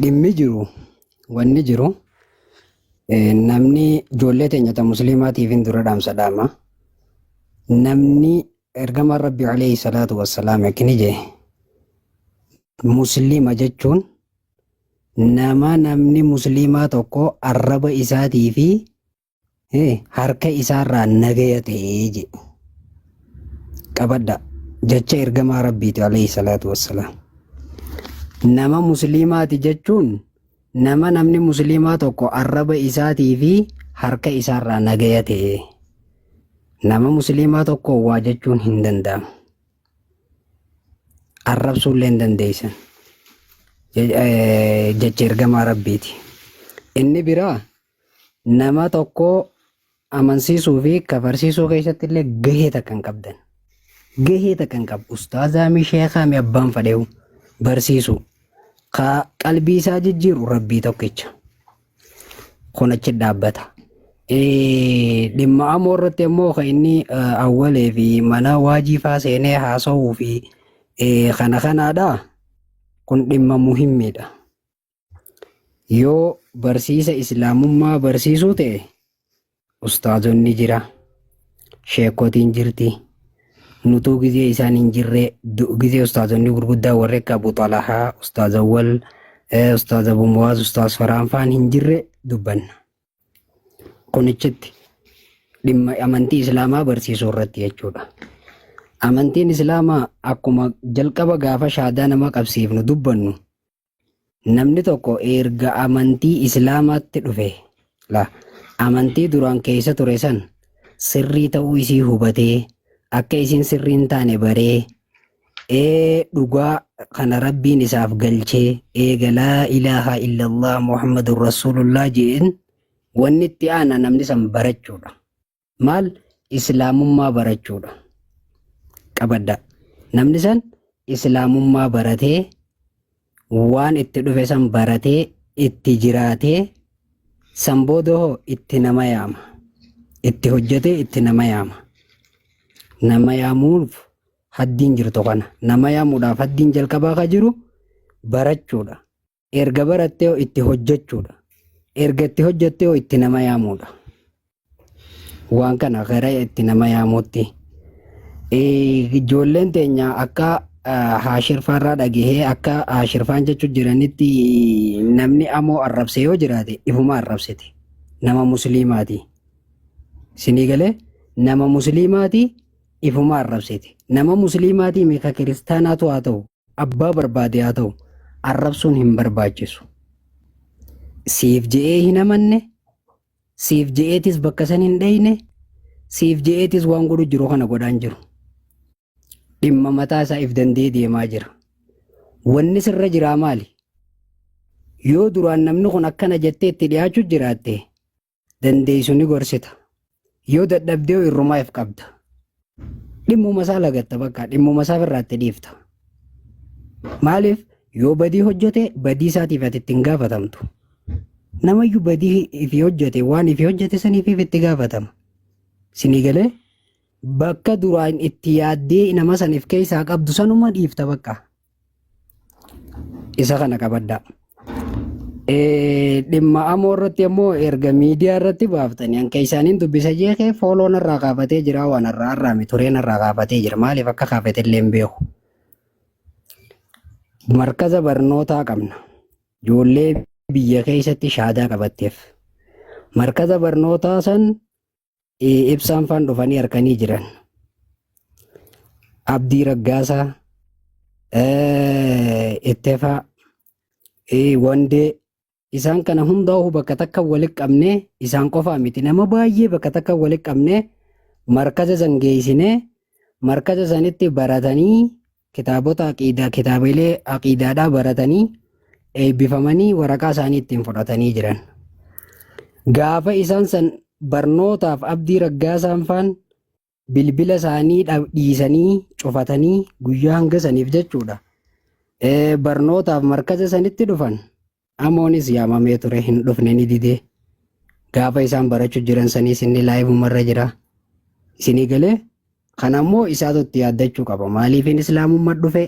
Dhimmi jiru wanni jiru namni ijoollee teenya ta musliimaatiif hin dura dhaamsa dhaama. Namni ergamaan Rabbi alayhi salaatu wassalaam akkini jee musliima jechuun nama namni musliimaa tokko arraba isaatii fi Eh, harka isaarraa nagaya ta'ee je qabadha jecha ergamaa rabbiiti alayhi salaatu wassalaam nama musliimaati jechuun nama namni musliimaa tokko arraba isaatii fi harka isaarraa nagaya ta'ee nama musliimaa tokko waa jechuun hin danda'amu arrabsuullee hin dandeessan Je- eh, jecha ergamaa rabbiiti inni biraa Nama tokko amansiisuu fi kafarsiisuu keessatti illee gahee takka hin qabdan. Gahee takka hin qabu. Ustaazaa mi sheekaa mi abbaan fadheewu barsiisuu. Ka qalbii isaa jijjiiru rabbii tokkicha. Kun achi dhaabbata. Eh, Dhimma amoo irratti ammoo kan inni eh, awwalee fi mana waajiifaa seenee haasa'uu fi eh, kana kanaadha. Kun dhimma muhimmiidha. Yoo barsiisa islaamummaa barsiisuu ta'e ustaazonni jira sheekotiin jirti nutuu gizee isaan hin jirre du- gizee ustaazonni gurguddaa warri akka abu xalahaa ustaaz awwal eh, ustaaz abu muwaaz ustaaz faraan faan hin jirre dubbanna kunichitti dhimma amantii islaamaa barsiisuu irratti jechuudha amantiin islaamaa akkuma jalqaba gaafa shaadaa nama qabsiifnu dubbannu Namni tokko erga amantii Islaamaatti dhufe la amantii duraan keessa ture san sirrii ta'uu isii hubatee akka isiin sirrii hin taane baree ee dhugaa kana rabbiin isaaf galchee eega laa ilaaha illallah muhammadun rasuulullah je'een wanni itti aana namni san barachuudha. Maal islaamummaa barachuudha. Qabaddaa. Namni san islaamummaa baratee waan itti dhufe san baratee itti jiraatee san booda hoo itti nama yaama. Itti hojjetee itti nama yaama. Nama yaamuuf haddiin jirtu kana. Nama yaamuudhaaf haddiin jalqabaa ka jiru barachuudha. Erga barattee hoo itti hojjechuudha. Erga itti hojjettee hoo itti nama yaamuudha. Waan kana gara itti nama yaamuutti. Eh, Ijoolleen teenya akka ah, haashirfaarraa dhagahee akka haashirfaan jechuu jiranitti namni amoo arrabse yoo jiraate ifuma arrabsite. Nama musliimaati. Sinii galee nama musliimaati ifuma arrabsite. Nama musliimaati meeqa kiristaanaatu haa ta'u. Abbaa barbaade haa ta'u arrabsuun hin barbaachisu. Siif je'ee hin amanne, siif je'eetis bakka san hin dheyne, siif je'eetis waan godhu jiru kana godhaan jiru. Dhimma mataa isaa if danda'ee deemaa jira. Wanni sirra jiraa maali? Yoo duraan namni kun akkana jettee itti dhiyaachuu jiraatte, dandeessu ni gorsita. Yoo dadhabdee irrumaa if qabda. Dhimmuma isaa lagatta bakka dhimmuma isaa irraatti dhiifta. Maaliif yoo badii hojjete badii isaatiif ati ittiin gaafatamtu. Namayyuu badii ifi hojjete waan ifi hojjete saniif itti gaafatama. Sinii galee bakka duraan itti yaaddee nama saniif keessaa qabdu sanuma dhiifta bakka. isa kana qabaddaa. Eh, Dhimma amoo irratti ammoo erga miidiyaa irratti baaftanii hanqa isaaniin dubbisa jeekee fooloon irraa kaafatee jira waan irraa har'aame tureen irraa kaafatee jira maaliif akka kaafate illee hin beeku. Markaza barnootaa qabna. Ijoollee biyya keessatti shaadaa qabatteef. Markaza barnootaa san Eh, Ibsaan faan dhufanii harkanii jiran. Abdii Raggaasaa, eh, Ittefaa, eh, Wandee isaan kana hundaa'uu bakka takka walitti qabnee isaan qofaa miti nama baay'ee bakka takka walitti qabnee markaza san geessinee markaza sanitti baratanii Kitaabota aqiidaa kitaabilee aqiidaadhaa baratanii eebbifamanii waraqaa isaanii ittiin fudhatanii jiran. Gaafa isaan san barnootaaf abdii raggaasaan faan bilbila isaanii dhab- dhiisanii cufatanii guyyaa hanga saniif jechuudha. Eh, Barnootaaf markaza sanitti dhufan Amoonis yaamamee ture hin dhufne ni didee. Gaafa isaan barachu jiran saniis inni laayivuma irra jira. Isinii galee kan ammoo isaatu itti yaaddachuu qaba. Maaliifin islaamummaa dhufe?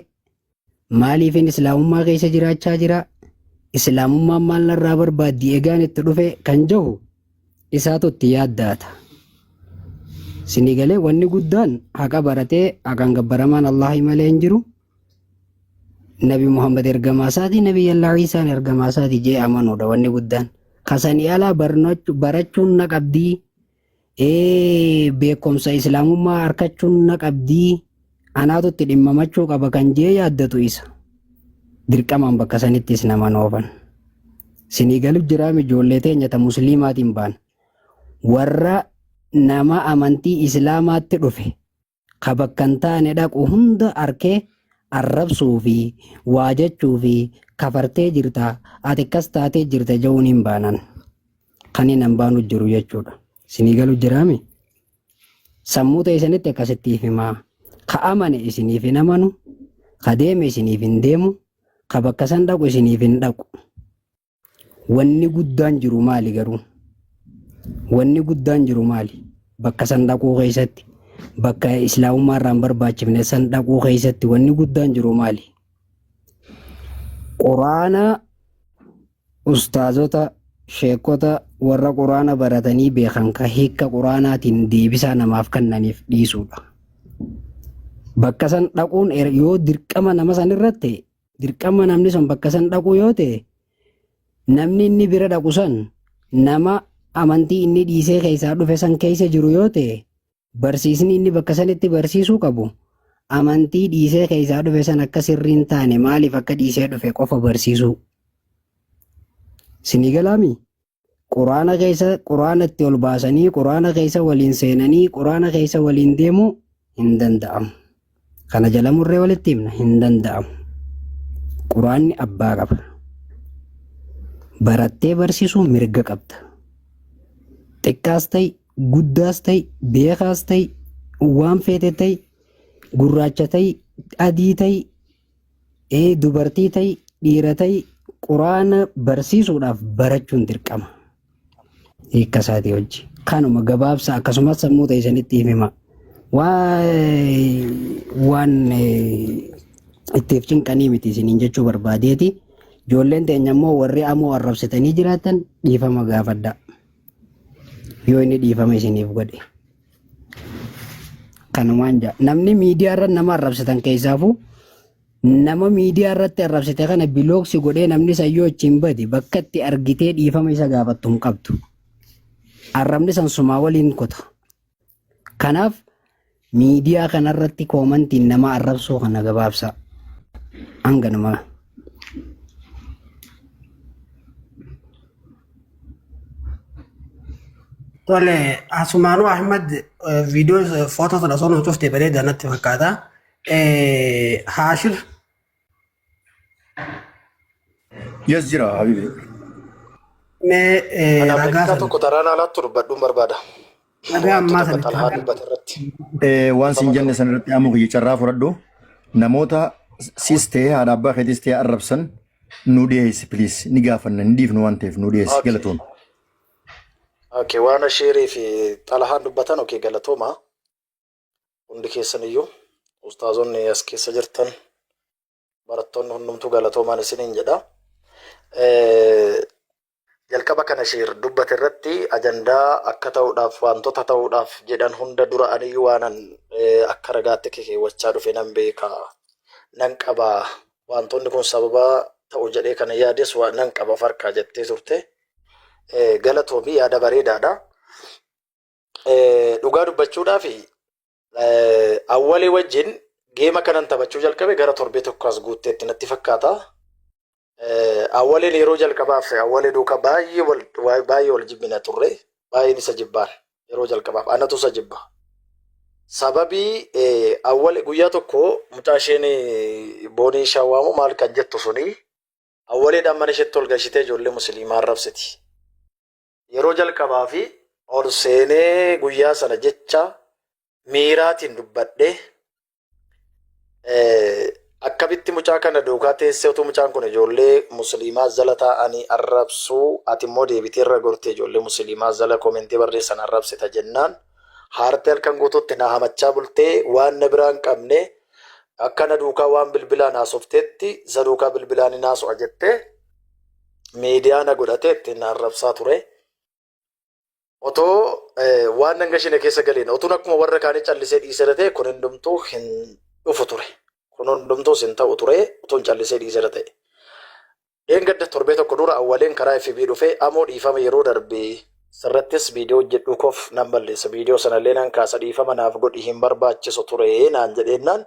Maaliifin islaamummaa keessa jiraachaa jira? Islaamummaan maal narraa barbaaddi egaan itti dhufe kan jahu isaatu itti yaaddaata. Isinii galee wanni guddaan haqa baratee haqaan gabbaramaan Allahi malee hin jiru. nabi muhammad ergamaa isaati nabi yallaa ciisaan ergamaa isaati jee amanuudha wanni guddaan kasanii alaa barnachu- barachuun na qabdii ee beekumsa islaamummaa arkachuun na qabdii anaatu itti dhimmamachuu qaba kan jee yaaddatu isa dirqamaan bakka sanitti is nama noofan sinii galu jiraam ijoollee teenya ta musliimaatiin baan warra nama amantii islaamaatti dhufe ka bakka hin taane dhaqu hunda arkee arrabsuu fi waa jechuu fi kafartee jirta ati akkas taatee jirta ja'uun hin baanan kan hin hambaanu jiru jechuudha isinii galu jiraami sammuu teessanitti akkasittiif himaa ka amane isiniif hin amanu ka deeme isiniif hin deemu ka bakka san dhaqu isiniif hin dhaqu Wanni guddaan jiru maali garuu? Wanni guddaan jiru maali? Bakka san dhaquu keessatti, bakka islaamummaa irraa hin barbaachifne san dhaquu keessatti wanni guddaan jiru maali? Quraana ustaazota, sheekota warra quraana baratanii beekan ka hiika quraanaatiin deebisaa namaaf kennaniif dhiisuudha. Bakka san dhaquun er- yoo dirqama nama san irratti ta'e dirqama namni sun bakka san dhaquu yoo ta'e namni inni bira dhaqu san nama amantii inni dhiisee keessaa dhufe san keessa jiru yoo ta'e barsiisni inni bakka sanitti barsiisuu qabu amantii dhiisee keessaa dhufe san akka sirrii hin taane maaliif akka dhiisee dhufe qofa barsiisuu. Sinii galaamii? Qur'aana keessa Qur'aana itti ol baasanii Qur'aana keessa waliin seenanii Qur'aana keessa waliin deemuu hin danda'amu. Kana jala murree walitti himna hin danda'amu. Qur'aanni abbaa qaba. Barattee barsiisuu mirga qabda. Xiqqaas ta'i, guddaas ta'i, beekaas ta'i, waan feete ta'i, gurraacha ta'i, adii ta'i, Ee dubartii ta'i dhiira ta'i quraana barsiisuudhaaf barachuun dirqama. Hiikka isaatii hojji. Kanuma gabaabsa akkasumas sammuu ta'e isinitti himima. Waan ittiif cinqanii miti isiniin jechuu barbaadeeti. Ijoolleen teenya immoo warri amoo arrabsitanii jiraatan dhiifama gaafadha. Yoo inni dhiifama isiniif godhe. Kanumaan jaa. Namni miidiyaa irra nama arrabsitan keessaafuu nama miidiyaa irratti arrabsite kana bilooksi godhee namni sayyoo achiin bade bakka itti argitee dhiifama isa gaafattu hin qabdu. Arrabni san sumaa waliin kuta. Kanaaf miidiyaa kanarratti koomantiin nama arrabsuu kana gabaabsaa. Hanganumaa. Tole asumaanuu Ahmad viidiyoo footoo sana osoo nu cuftee bareeda natti fakkaata. Eh, Haashir Yes jira habibi. mee eh, Ana ragaa Ameerikaa sana tokko taraan alaatti dubbadhuun barbaada. Dhagaa ammaa Wantoota sanitti Xalhaan haqa. dubbate irratti. Eh, waan siin Dhiifama jenne qaba. san irratti amuu kiyya carraa fudhadhu namoota sis ta'e haadha abbaa keetis ta'e arrabsan nu dhiyeessi please ni gaafanna ni dhiifnu waan ta'eef nu dhiyeessi Okay. galatoom. Okay, waan ashiirii fi xalahaan dubbatan okay galatooma. Hundi keessan iyyuu ustaazonni as keessa jirtan barattoonni hundumtuu galatoomaan isiniin jedha. Jalqaba kana shiir dubbate irratti ajandaa akka ta'uudhaaf wantoota ta'uudhaaf jedhan hunda dura aniyyuu waanan akka ragaatti keewwachaa dhufe nan beeka nan qaba wantoonni kun sababa ta'u jedhee kana yaades nan qaba farka jettee turte galatoomi yaada bareedaadha. Dhugaa dubbachuudhaaf Awwalii wajjin geema kanan taphachuu jalqabe gara torbee tokko as guutteetti natti fakkaata. Awwaliin yeroo jalqabaaf awwalee duukaa baay'ee wal baay'ee wal jibbina turre baay'een isa jibbaan yeroo jalqabaaf anatu isa jibba. Sababii awwal guyyaa tokko mucaa isheen boonii ishaa waamu maal kan jettu suni awwaleedhaan mana isheetti ol galchitee ijoollee musliimaa arrabsiti. Yeroo jalqabaaf ol seenee guyyaa sana jecha miiraatiin dubbadhe. Akkamitti mucaa kana duukaa teessee utuu mucaan kun ijoollee musliimaa jala taa'anii arrabsuu ati immoo deebitee irra gortee ijoollee musliimaa jala koomentii barreessan arrabsita jennaan haartee halkan guutuutti na hamachaa bultee waan na biraa hin qabne akka na duukaa waan bilbilaan haasofteetti isa duukaa bilbilaan hin haasofta jettee miidiyaa na godhatee ittiin na arrabsaa ture. Otoo eh, waan nan gashine keessa galeen otuun akkuma warra kaanii callisee dhiisera ta'e kun hundumtuu hin dhufu ture. Kun hundumtuus hin ta'u ture otuun callisee dhiisera ta'e. Dheengadda torbee tokko dura awwaleen karaa FB dhufee amoo dhiifama yeroo darbe sirrattis viidiyoo hojjedhuu koof nan balleessa viidiyoo sanallee nan kaasa dhiifama naaf godhi hin barbaachisu ture naan jedheennaan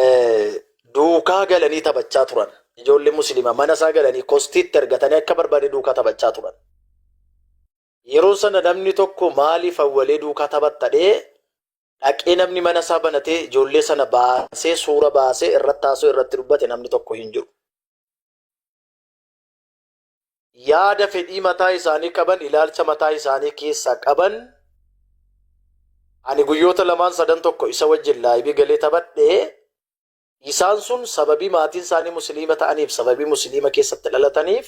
eh, duukaa galanii taphachaa turan. Ijoollee musliima mana isaa galanii kostiitti ergatanii akka barbaade duukaa taphachaa turan. Yeroo sana namni tokko maaliif awwalee duukaa taphattadhee dhaqee namni mana isaa banatee ijoollee sana baasee suura baasee irratti taasoo irratti dubbate namni tokko hin jiru. yaada fedhii mataa isaanii qaban ilaalcha mataa isaanii keessaa qaban ani guyyoota lamaan sadan tokko isa wajjin laaybii galee taphadhe isaan sun sababii maatiin isaanii musliima ta'aniif sababii musliima keessatti dhalataniif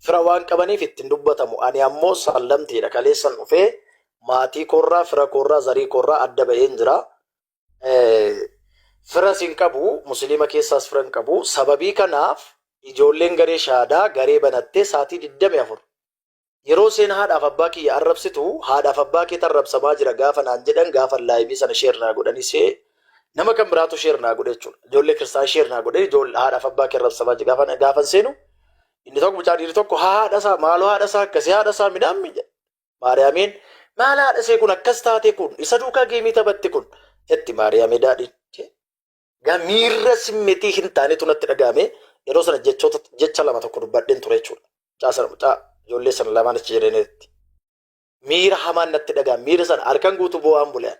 fira waan qabaniif ittiin dubbatamu ani ammoo sallamtiidha kaleessan dhufee maatii koorraa fira koorraa zarii koorraa adda ba'een jira firas hin qabu musliima keessaas fira hin qabu sababii kanaaf ijoolleen garee shaadaa garee banattee saatii 24 yeroo seen haadhaaf abbaa kiyya arrabsitu haadhaaf abbaa kee tarrabsamaa jira gaafa naan jedhan gaafa laayivii sana sheer naa godhanii see nama kan biraatu sheer naa godhe jechuudha ijoollee kiristaan sheer naa godhe ijoollee haadhaaf abbaa kee arrabsamaa jira gaafa gaafan seenu inni tokko mucaa dhiirri tokko haa haadha isaa maaloo haadha isaa akkasii haadha isaa midhaan miidha Maariyaamiin maal haadhasee kun akkas taatee kun isa duukaa geemii taphatte kun jetti Maariyaamii daadhiin. Miirra simmetii hin taanetu natti dhaga'ame yeroo sana jechoota jecha lama tokko dubbadheen ture jechuudha. Mucaa sana mucaa ijoollee sana lamaan achi jedhanitti. Miira hamaan natti dhaga'ame miira sana halkan guutuu boo'aan bulean.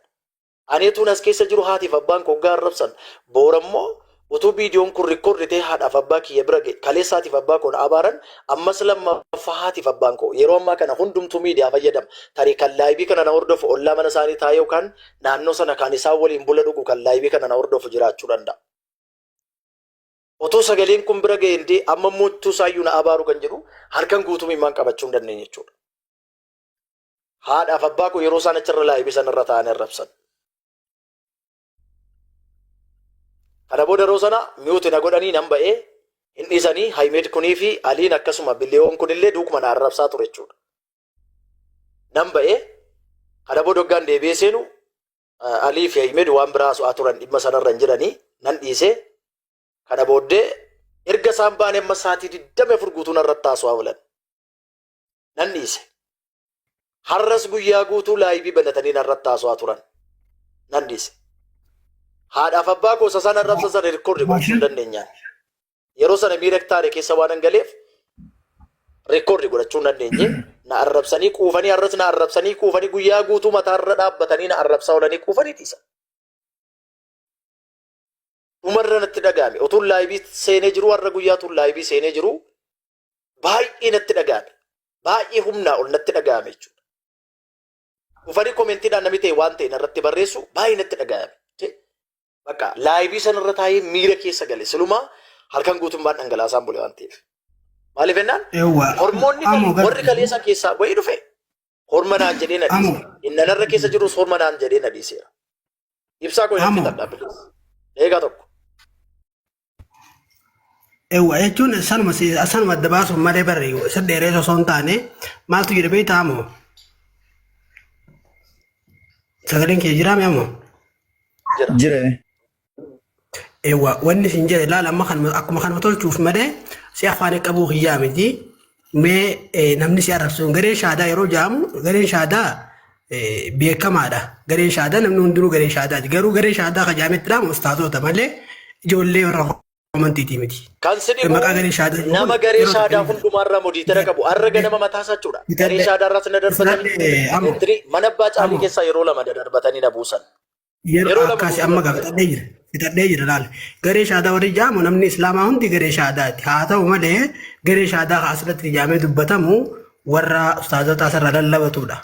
Ani utuun as keessa jiru haatiif abbaan koo oggaa arrabsan boorammoo utuu viidiyoon kun rikkoordi ta'ee haadhaaf abbaa kiyya bira ga'e kaleessa haatiif abbaa koo na abaaran ammas lammaffaa haatiif abbaan koo yeroo ammaa kana hundumtuu miidiyaa fayyadama tarii kan laayibii kana na hordofu ollaa mana isaanii taa'ee yookaan naannoo sana kan isaan waliin bula dhugu kan laayibii kana na hordofu jiraachuu danda'a. Otoo sagaleen kun bira ga'een dee amma immoo utuu isaayyuu na abaaru kan jedhu harkan guutuu mimaan qabachuu hin dandeenye jechuudha. Haadhaaf abbaa koo yeroo isaan achirra laayivii sanarra taa'anii arrabsan. Kana booda yeroo sana miyuuti na godhanii nan ba'ee hin dhiisanii Hayimeed kunii fi Aliin akkasuma biliyoon kunillee duukuma na arrabsaa ture jechuudha. Nan ba'ee kana booda hoggaan deebi'ee seenu Alii fi Hayimeed waan biraa su'aa turan dhimma sanarra hin jiranii nan dhiisee kana booddee erga isaan baanee amma sa'aatii 24 guutuu narratti haasawaa oolan. Nan dhiise. Har'as guyyaa guutuu laayivii banatanii narratti haasawaa turan. Nan dhiise. Haadhaaf abbaa koo isa sana arrabsa sana rikkoordi gochuu hin dandeenyaan. Yeroo sana miira taane keessa waan hin galeef rikkoordi godhachuu hin dandeenye. Na arrabsanii quufanii har'as na arrabsanii quufanii guyyaa guutuu mataarra dhaabbatanii na arrabsaa oolanii quufanii dhiisan. Dhumarra natti dhaga'ame. Otuun laayivii seenee jiru har'a guyyaa tuun laayivii seenee jiru baay'ee natti dhaga'ame. Baay'ee humnaa ol natti dhaga'ame jechuudha. Dhufanii koomentiidhaan namni ta'e waan ta'e narratti barreessu baay'ee natti dhaga'ame. Je- Bakka laayivii sanarra taa'ee miira keessa gale silumaa halkan guutummaan dhangalaasaan bule waan ta'eef. Maaliif jennaan Ewa. hormoonni Amo kale- warri kaleessa keessaa bahee dhufe horma naan jedhee na Amo. dhiise. Inni narra keessa jirus horma naan jedhee na dhiiseera. Ibsaa koo hin Amo. fixadhaa bilis. Eegaa tokko. Ewa jechuun sanuma si- sanuma adda baasuuf malee barri isa dheeree osoo hin taane maaltu jedhe beektaa moo sagaleen kee jiraa mee moo Jira. ewa wanni isin jedhe laala amma kanuma akkuma kanuma tolchuuf malee si afaan qabu kiyyaa miti Mee namni si arrabsuun gareen shaadaa yeroo jaamu gareen shaadaa beekamaadha. Gareen shaadaa namni hundinuu gareen shaadaati. Garuu gareen shaadaa kan jaametti dhaamu ustaazoota malee ijoollee warra amantiitii miti. Kan si dhibu Maqaa gareen shaadaa jedhu nama kun garee yeroo shaadaa tokko- hundumaarraa modiitara qabu har'a ganama mataa isaa jechuudha. Bitadhe. Garee shaadaarraas na darbatanii Bitadhe, amo. Entirii mana abbaa caalii Amo. keessaa yeroo lama na darbatanii na buusan. Yeroo Yeroo lama akkaasi nu amma dubbatan. gaafadhee jira. Fixadhee jira laal. Garee shaadaa warri jaamu namni islaamaa hundi garee shaadaati. Haa ta'u malee garee shaadaa kan asirratti jaamee dubbatamu warra ustaazota asirra lallabatudha.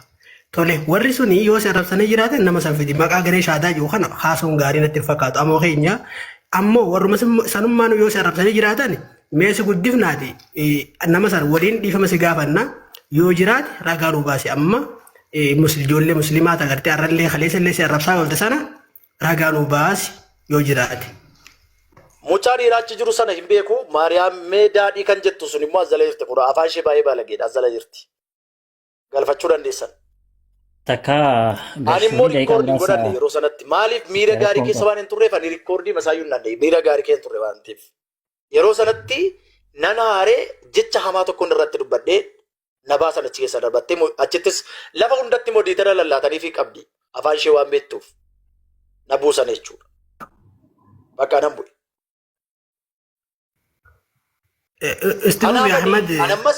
Tole warri suni yoo si arrabsanii jiraatan nama san fidi. Maqaa garee shaadaa jiru kana haasawuun gaarii natti hin fakkaatu. Ammoo keenya ammoo warruma sun- sanummaan yoo si arrabsanii jiraatan mee si guddifnaati eh, nama san waliin dhiifama si gaafanna yoo jiraate ragaa nu baasi amma eh, mus- ijoollee musliimaa ta gartee arrallee kaleessa illee si arrabsaa oolte sana ragaa nuu baasi yoo jiraate. Mucaa dhiiraa achi jiru sana hin beeku. Maariyaam mee daadhii kan jettu sun immoo azala jirti kun afaan ishee baay'ee baalageedha azala jirti. Galfachuu dandeessan. Takka Ani garsuun immoo daqiiqaa riikkoordii hin godhanne muraasa yeroo sanatti. Maaliif miira gaarii rakkoon keessa qaba. waan hin turreef ani riikkoordii masaayyuu hin dandeenye. Miira gaarii keessa hin turre waan ta'eef. Yeroo sanatti nan aaree jecha hamaa tokkoon irratti dubbadhee na baasan achi keessa darbattee mo- achittis lafa hundatti immoo diitara lallaataniifii qabdi afaan ishee waan beektuuf na buusan jechuudha. Bakka nan bu'e. Itti Anaa fufi mali Ahmad. anammas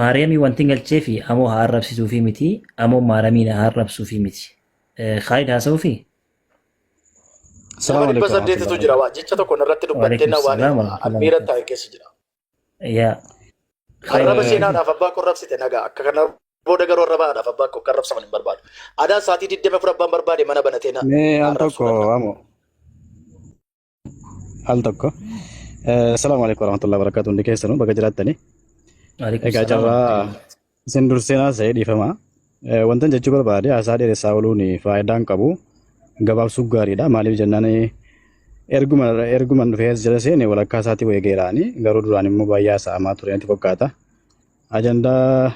Maariyaamii wanti galchee fi amoo haa arrabsituu fi miti amoo maariyaamii na haa arrabsuu fi miti. Khaalid haasa'uu fi Nama dhibba saddeetitu jira waa jecha tokko irratti dubbattee na waan almiira taa'e keessa jira. yaa Arraba seenaadhaaf abbaa koo rabsite nagaa akka kana booda garuu arraba haadhaaf abbaa koo kan rabsaman hin barbaadu. Adaan sa'aatii 24 abbaan barbaade mana banatee na Mee al tokko amo. al tokko. Salaamu alaikum warahmatullahi wabarakatuh hundi keessanuu baga jiraattanii. Egaa carraa isin dursinaa ta'ee dhiifama. Wantan jechuu barbaade haasaa dheeressaa ooluun faayidaa hin qabu. Gabaabsuu gaariidha. Maaliif jennaan erguma erguman dhufee as jala seene walakkaa isaatii wayii geeraani garuu duraan immoo baay'ee haasa'amaa ture natti fakkaata. Ajandaa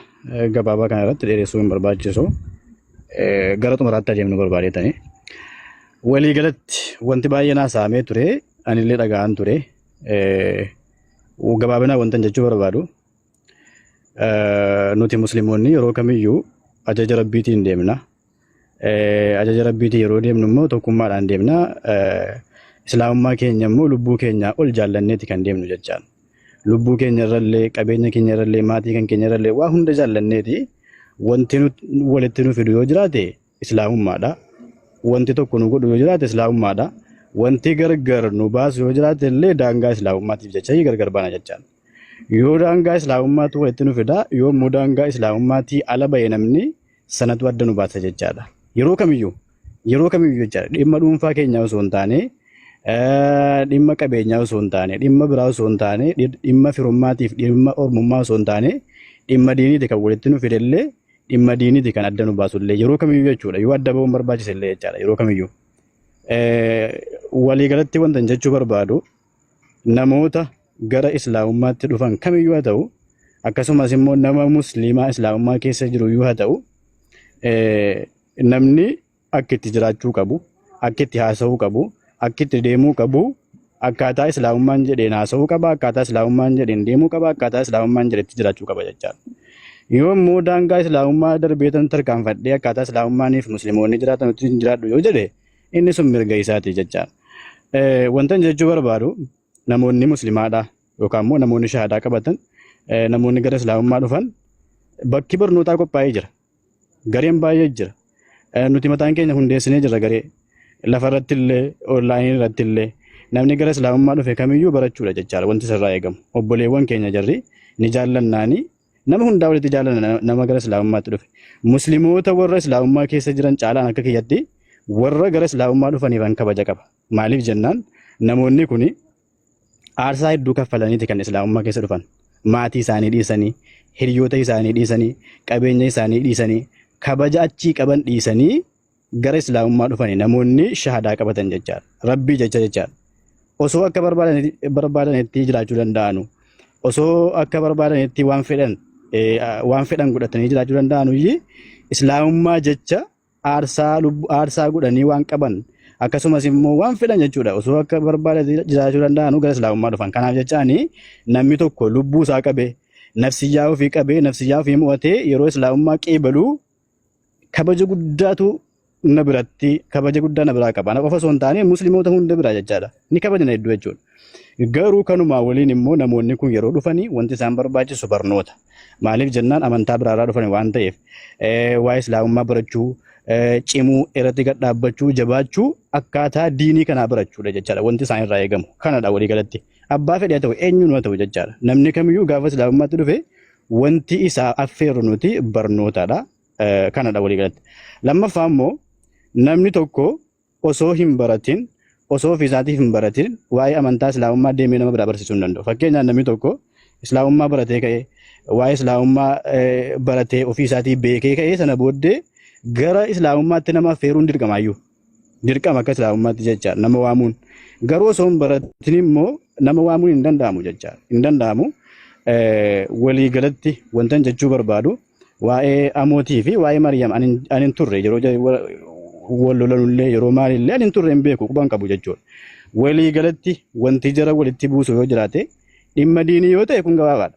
gabaabaa kana irratti dheeressuu hin barbaachisu. Gara xumuraatti adeemnu barbaadeetani. Waliigalatti wanti baay'een haasa'amee ture anillee dhaga'aan ture. Gabaabinaan wantan jechuu barbaadu nuti musliimonni yeroo kamiyyuu ajaja rabbiitiin deemna. Ajaja rabbiitiin yeroo deemnu immoo tokkummaadhaan deemna. Islaamummaa keenya immoo lubbuu keenyaa ol jaallanneeti kan deemnu jechaan. Lubbuu keenya irrallee, qabeenya keenya irrallee, maatii kan keenya irrallee waa hunda jaallanneeti. Wanti walitti nu fidu yoo jiraate islaamummaadha. Wanti tokko nu godhu yoo jiraate islaamummaadha. Wanti gargar nu baasu yoo jiraate illee daangaa islaamummaatiif jecha gargar baana jechaan. Yoo daangaa islaamummaatu walitti nu fida, yoo immoo daangaa islaamummaati ala ba'e namni sanatu adda nu baasa jechaadha. Yeroo kamiyyuu yeroo kamiyyuu jechaadha dhimma dhuunfaa keenyaa osoo hin taane dhimma qabeenyaa osoo hin taane dhimma biraa osoo hin taane dhimma firummaatiif dhimma ormummaa osoo hin taane dhimma diiniiti kan walitti nu fidellee dhimma diiniiti kan adda nu baasullee yeroo kamiyyuu jechuudha yoo adda ba'uun barbaachisellee jechaadha yeroo kamiyyuu. Waliigalatti wanta jechuu barbaadu namoota gara islaamummaatti dhufan kamiyyuu haa ta'u akkasumas immoo nama musliimaa islaamummaa keessa jiru yoo haa ta'u namni akka itti jiraachuu qabu akka itti haasa'uu qabu akka itti deemuu qabu akkaataa islaamummaan jedheen haasa'uu qaba akkaataa islaamummaan jedheen deemuu qaba akkaataa islaamummaan jedhetti jiraachuu qaba jechaadha. Yoo immoo daangaa islaamummaa darbeetan tarkaanfadhee akkaataa islaamummaaniif musliimoonni jiraatan ittiin jiraadhu yoo jedhe Inni sun mirga isaati jechaan. Wantan jechuu barbaadu namoonni muslimaadhaa yookaan immoo namoonni shahaadaa qabatan namoonni gara islaamummaa dhufan bakki barnootaa qophaa'ee jira. Gareen baay'ee jira. Nuti mataan keenya hundeessinee jira garee. Lafa irratti illee onlaayinii irratti illee namni gara islaamummaa dhufe kamiyyuu barachuudha jechaadha wanti sirraa eegamu. Obboleewwan keenya jarri ni jaallannaanii Nama hundaa walitti jaalana na- nama gara islaamummaatti dhufe. Muslimoota warra islaamummaa keessa jiran caalaan akka kiyyatti warra gara islaamummaa dhufaniifan kabaja qaba. Maaliif jennaan namoonni kun aarsaa hedduu kaffalaniiti kan islaamummaa keessa dhufan. Maatii isaanii dhiisanii, hiriyoota isaanii dhiisanii, qabeenya isaanii dhiisanii, kabaja achii qaban dhiisanii gara islaamummaa dhufani namoonni shahadaa qabatan jechaadha. Rabbii jecha jechaadha. Osoo akka barbaadani- barbaadanitti jiraachuu danda'anu. Osoo akka barbaadanitti waan fedhan eh, waan fedhan godhatanii jiraachuu danda'anu iyyii islaamummaa jecha aarsaa lubbu aarsaa godhanii waan qaban akkasumas immoo waan fedhan jechuudha. Osoo akka barbaadanitti jiraachuu danda'anu gara islaamummaa dhufan. Kanaaf jechaani namni tokko lubbuu isaa qabee nafsiyyaa ofii qabee nafsiyyaa ofii mo'atee yeroo islaamummaa qeebaluu kabaja guddaatu na biratti kabaja guddaa na biraa qaba. Ana qofa osoo hin taane musliimoota hunda biraa jechaadha. Ni kabajna hedduu jechuudha. Garuu kanumaa waliin immoo namoonni kun yeroo dhufanii wanti isaan barbaachisu barnoota. Maaliif jennaan amantaa biraarraa dhufan waan ta'eef eh, waa'ee islaamummaa barachuu, eh, cimuu, irratti gad dhaabbachuu, jabaachuu akkaataa diinii kanaa barachuudha jechaadha. Wanti isaan irraa eegamu kanadha walii galatti. Abbaa fedhe haa ta'u eenyuun haa ta'u jechaadha. Namni kamiyyuu gaafa islaamummaatti dhufe wanti isaa affeerru nuti barnootaadha. Eh, Kanadha walii galatti. Lammaffaa immoo namni tokko osoo hin baratin osoo ofii isaatiif hin baratin waa'ee amantaa islaamummaa deemee nama biraa barsiisuu hin danda'u. Fakkeenyaaf namni tokko islaamummaa baratee ka'ee waa'ee islaamummaa eh, baratee ofii isaatii beekee ka'ee sana booddee gara islaamummaatti nama affeeruun dirqamaayyuu. Dirqama akka islaamummaatti jecha nama waamuun garuu osoo hin baratin immoo nama waamuun hin danda'amu jecha hin danda'amu. Walii galatti wantan jechuu barbaadu waa'ee amootii fi waa'ee Maariyaam ani hin turre yeroo wal lolanullee yeroo maalillee ani hin turre hin beeku quban qabu jechuudha. Walii galatti wanti jara walitti buusu yoo jiraate dhimma diinii yoo ta'e kun gabaabaadha.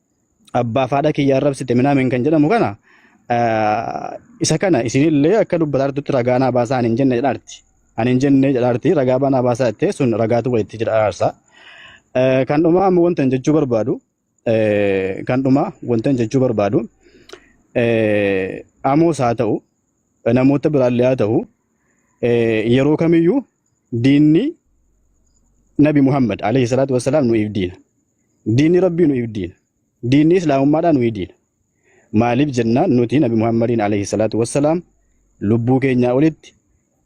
abbaa fi haadha kiyya arrabsite minaamin kan jedhamu kana isa kana isinillee akka dubbataa jirtutti ragaa naa baasaa ani hin jenne jedhaarti. Ani hin jenne jedhaarti ragaa banaa baasaa jettee sun ragaatu walitti jira araarsa. Kan dhumaa ammoo wanta hin jechuu barbaadu kan dhumaa wanta hin jechuu barbaadu amoos haa ta'u namoota biraallee haa ta'u yeroo kamiyyuu diinni nabi Muhammad alayhi salaatu wassalaam nuuf diina. Diinni Rabbii nu'iif diina. Diinni Islaamummaadhaa nu'ii diina. Maaliif jennaan nuti Nabi Muhammadiin alayhi salaatu wassalaam lubbuu keenyaa olitti,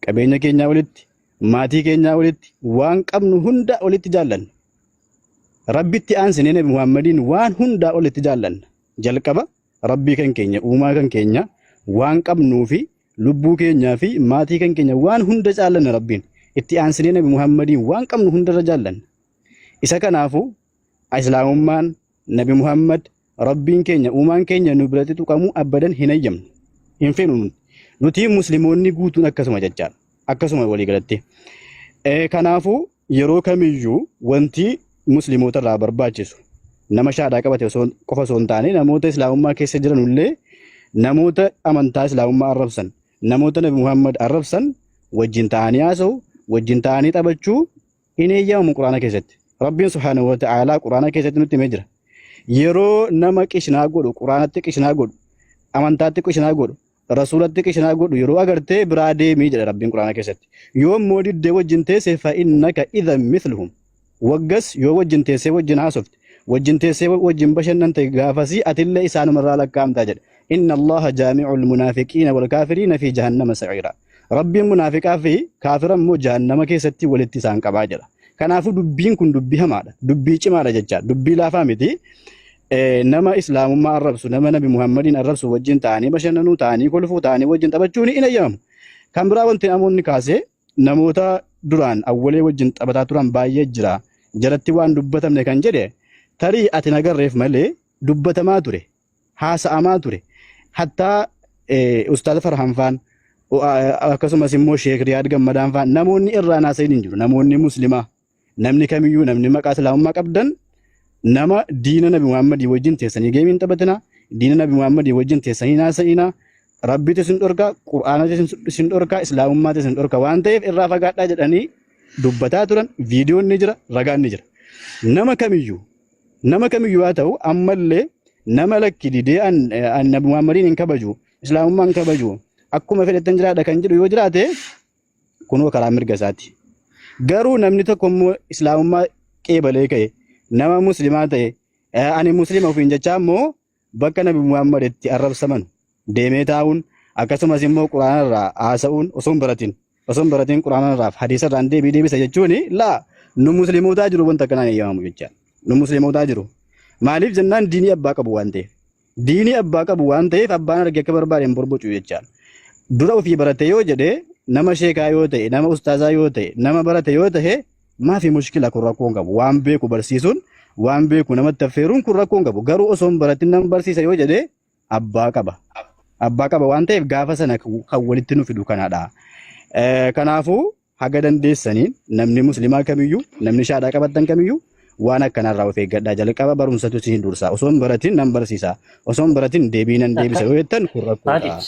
qabeenya keenyaa olitti, maatii keenyaa olitti, waan qabnu hundaa olitti jaallanna. Rabbitti aansinee Nabi Muhammadiin waan hundaa olitti jaallanna. Jalqaba Rabbii kan keenya, uumaa kan keenya, waan qabnuu fi lubbuu keenyaa fi maatii kan keenya waan hunda jaallanna Rabbiin. Itti aansinee Nabi Muhammadiin waan qabnu hundarra jaallanna. Isa kanaafu Islaamummaan Nabi Muhammad Rabbiin keenya uumaan keenya nu biratti tuqamuu abbadan hin hayyamnu. Hin feenu nuti. Nuti Muslimoonni guutuun akkasuma jechaadha. Akkasuma walii galatti. Eh, Kanaafuu yeroo kamiyyuu wanti Muslimoota irraa barbaachisu nama shaadaa qabate osoo qofa osoo hin taane namoota Islaamummaa keessa jiran illee namoota amantaa Islaamummaa arrabsan namoota Nabi Muhammad arrabsan wajjin ta'anii haasa'u wajjin ta'anii taphachuu hin eeyyamamu quraana keessatti rabbiin subhaanahu wa ta'aalaa quraana keessatti nutti himee jira yeroo nama qishnaa godhu quraanatti qishnaa godhu amantaatti qishnaa godhu rasuulatti qishnaa godhu yeroo agartee biraa deemii jedha rabbiin quraana keessatti yoo immoo diddee wajjin teesse fa'innaka idhan mithluhum waggas yoo wajjin teessee wajjin haasofte wajjin teessee wajjin bashannante gaafasii atillee isaanumarraa lakkaa'amtaa jedha inna allaha jaami'ul munaafiqiina wal kaafiriina fi jahannama sa'iiraa Rabbiin munaafiqaa fi kaafira immoo jahannama keessatti walitti isaan qabaa jedha. Kanaafuu dubbiin kun dubbii hamaadha. Dubbii cimaadha jecha. Dubbii laafaa miti. Eh, Nama islaamummaa arrabsu, nama nabi Muhammadiin arrabsu wajjin ta'anii bashannanuu, ta'anii kolfuu, ta'anii wajjin taphachuun hin eeyyamamu. Kan biraa wanti namoonni kaase namoota duraan awwalee wajjin taphataa turan baay'ee jira. Jaratti waan dubbatamne kan jedhe tarii ati nagarreef malee dubbatamaa ture. haasa'amaa ture. Hattaa Ustaaz Farhaan faan akkasumas immoo Sheek Riyaad Gammadaan faan namoonni irraa haasa'in hin jiru. Namoonni muslimaa namni kamiyyuu namni maqaa islaamummaa qabdan nama diina nabi Muhammadii wajjin teessanii geemiin taphatina diina nabi Muhammadii wajjin teessanii haasa'ina rabbiitu isin dhorka qur'aanatu isin dhorka islaamummaatu isin dhorka waan ta'eef irraa fagaadhaa jedhanii dubbataa turan viidiyoon ni jira ragaan ni jira nama kamiyyuu Nama kamiyyuu haa ta'u ammallee nama lakki didee an an Nabi Muhammadiin hin kabaju, Islaamummaa hin kabaju, akkuma fedhettan jiraadha kan jedhu yoo jiraate kunoo karaa mirga isaati. Garuu namni tokko immoo Islaamummaa qeebalee ka'e, nama Muslimaa ta'e, eh, ani Muslima ofiin jechaa immoo bakka Nabi Muhammad itti arrabsaman deemee taa'uun akkasumas immoo Quraanarraa haasa'uun osoo hin baratin osoo hin baratin Quraanarraaf hadiisarraan deebii deebisa jechuun laa nu muslimootaa jiru wanta kanaan eeyyamamu jecha nu muslimootaa jiru maaliif jennaan diinii abbaa qabu waan ta'eef diinii abbaa qabu waan ta'eef abbaan arge akka barbaade hin borbocu jecha dura ofii barate yoo jedhe nama sheekaa yoo ta'e nama ustaazaa yoo ta'e nama barate yoo ta'e Maafi mushkila kun rakkoon qabu waan beeku barsiisuun waan beeku namatti affeeruun kun rakkoon qabu garuu osoo hin baratin nan barsiisa yoo jedhe abbaa qaba. Abbaa qaba waan ta'eef gaafa sana kan walitti nu fidu kanaadha. Eh, Kanaafuu haga dandeessaniin namni muslimaa kamiyyuu namni shaadhaa qabattan kamiyyuu waan akkanarraa of eeggadhaa jalqaba barumsatu isin dursa osoo hin baratin nan barsiisa osoo hin baratin deebii nan deebisa yoo jettan kun rakkoodha. Haadis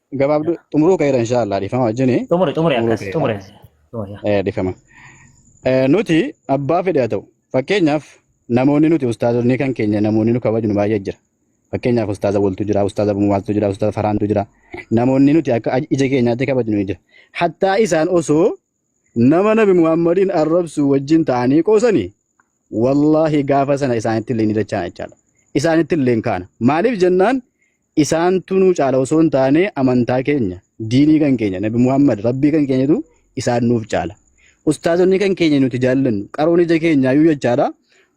gabaabduu xumuruu ka'eera inshaallah dhiifama wajjini Xumuri xumuri xumuruu akkas ka'eera xumuri. Xumuri. Eh, dhiifama. Eh, Nuti abbaa fedhe haa ta'u fakkeenyaaf namoonni nuti ustaazonni kan keenya namoonni nu kabajnu baay'ee jira. Fakkeenyaaf ustaaza Woltu jira, ustaaza Bumaaltu jira, ustaaza Faraantu jira. Namoonni nuti akka ija keenyaatti kabajnu ni jira. Hattaa isaan osoo Nama nabi Muhammadiin arrabsuu wajjin ta'anii qoosani wallaahi gaafa sana isaanitti illee ni dachaan jechaadha. Isaanitti illee kaana. Maaliif jennaan isaantu nuu caala osoo hin taane amantaa keenya, diinii kan keenya, nabi Muhammad rabbii kan keenyatu isaan nuuf caala. Ustaazonni kan keenya nuti jaallannu qaroon ija keenyaayyuu jechaadha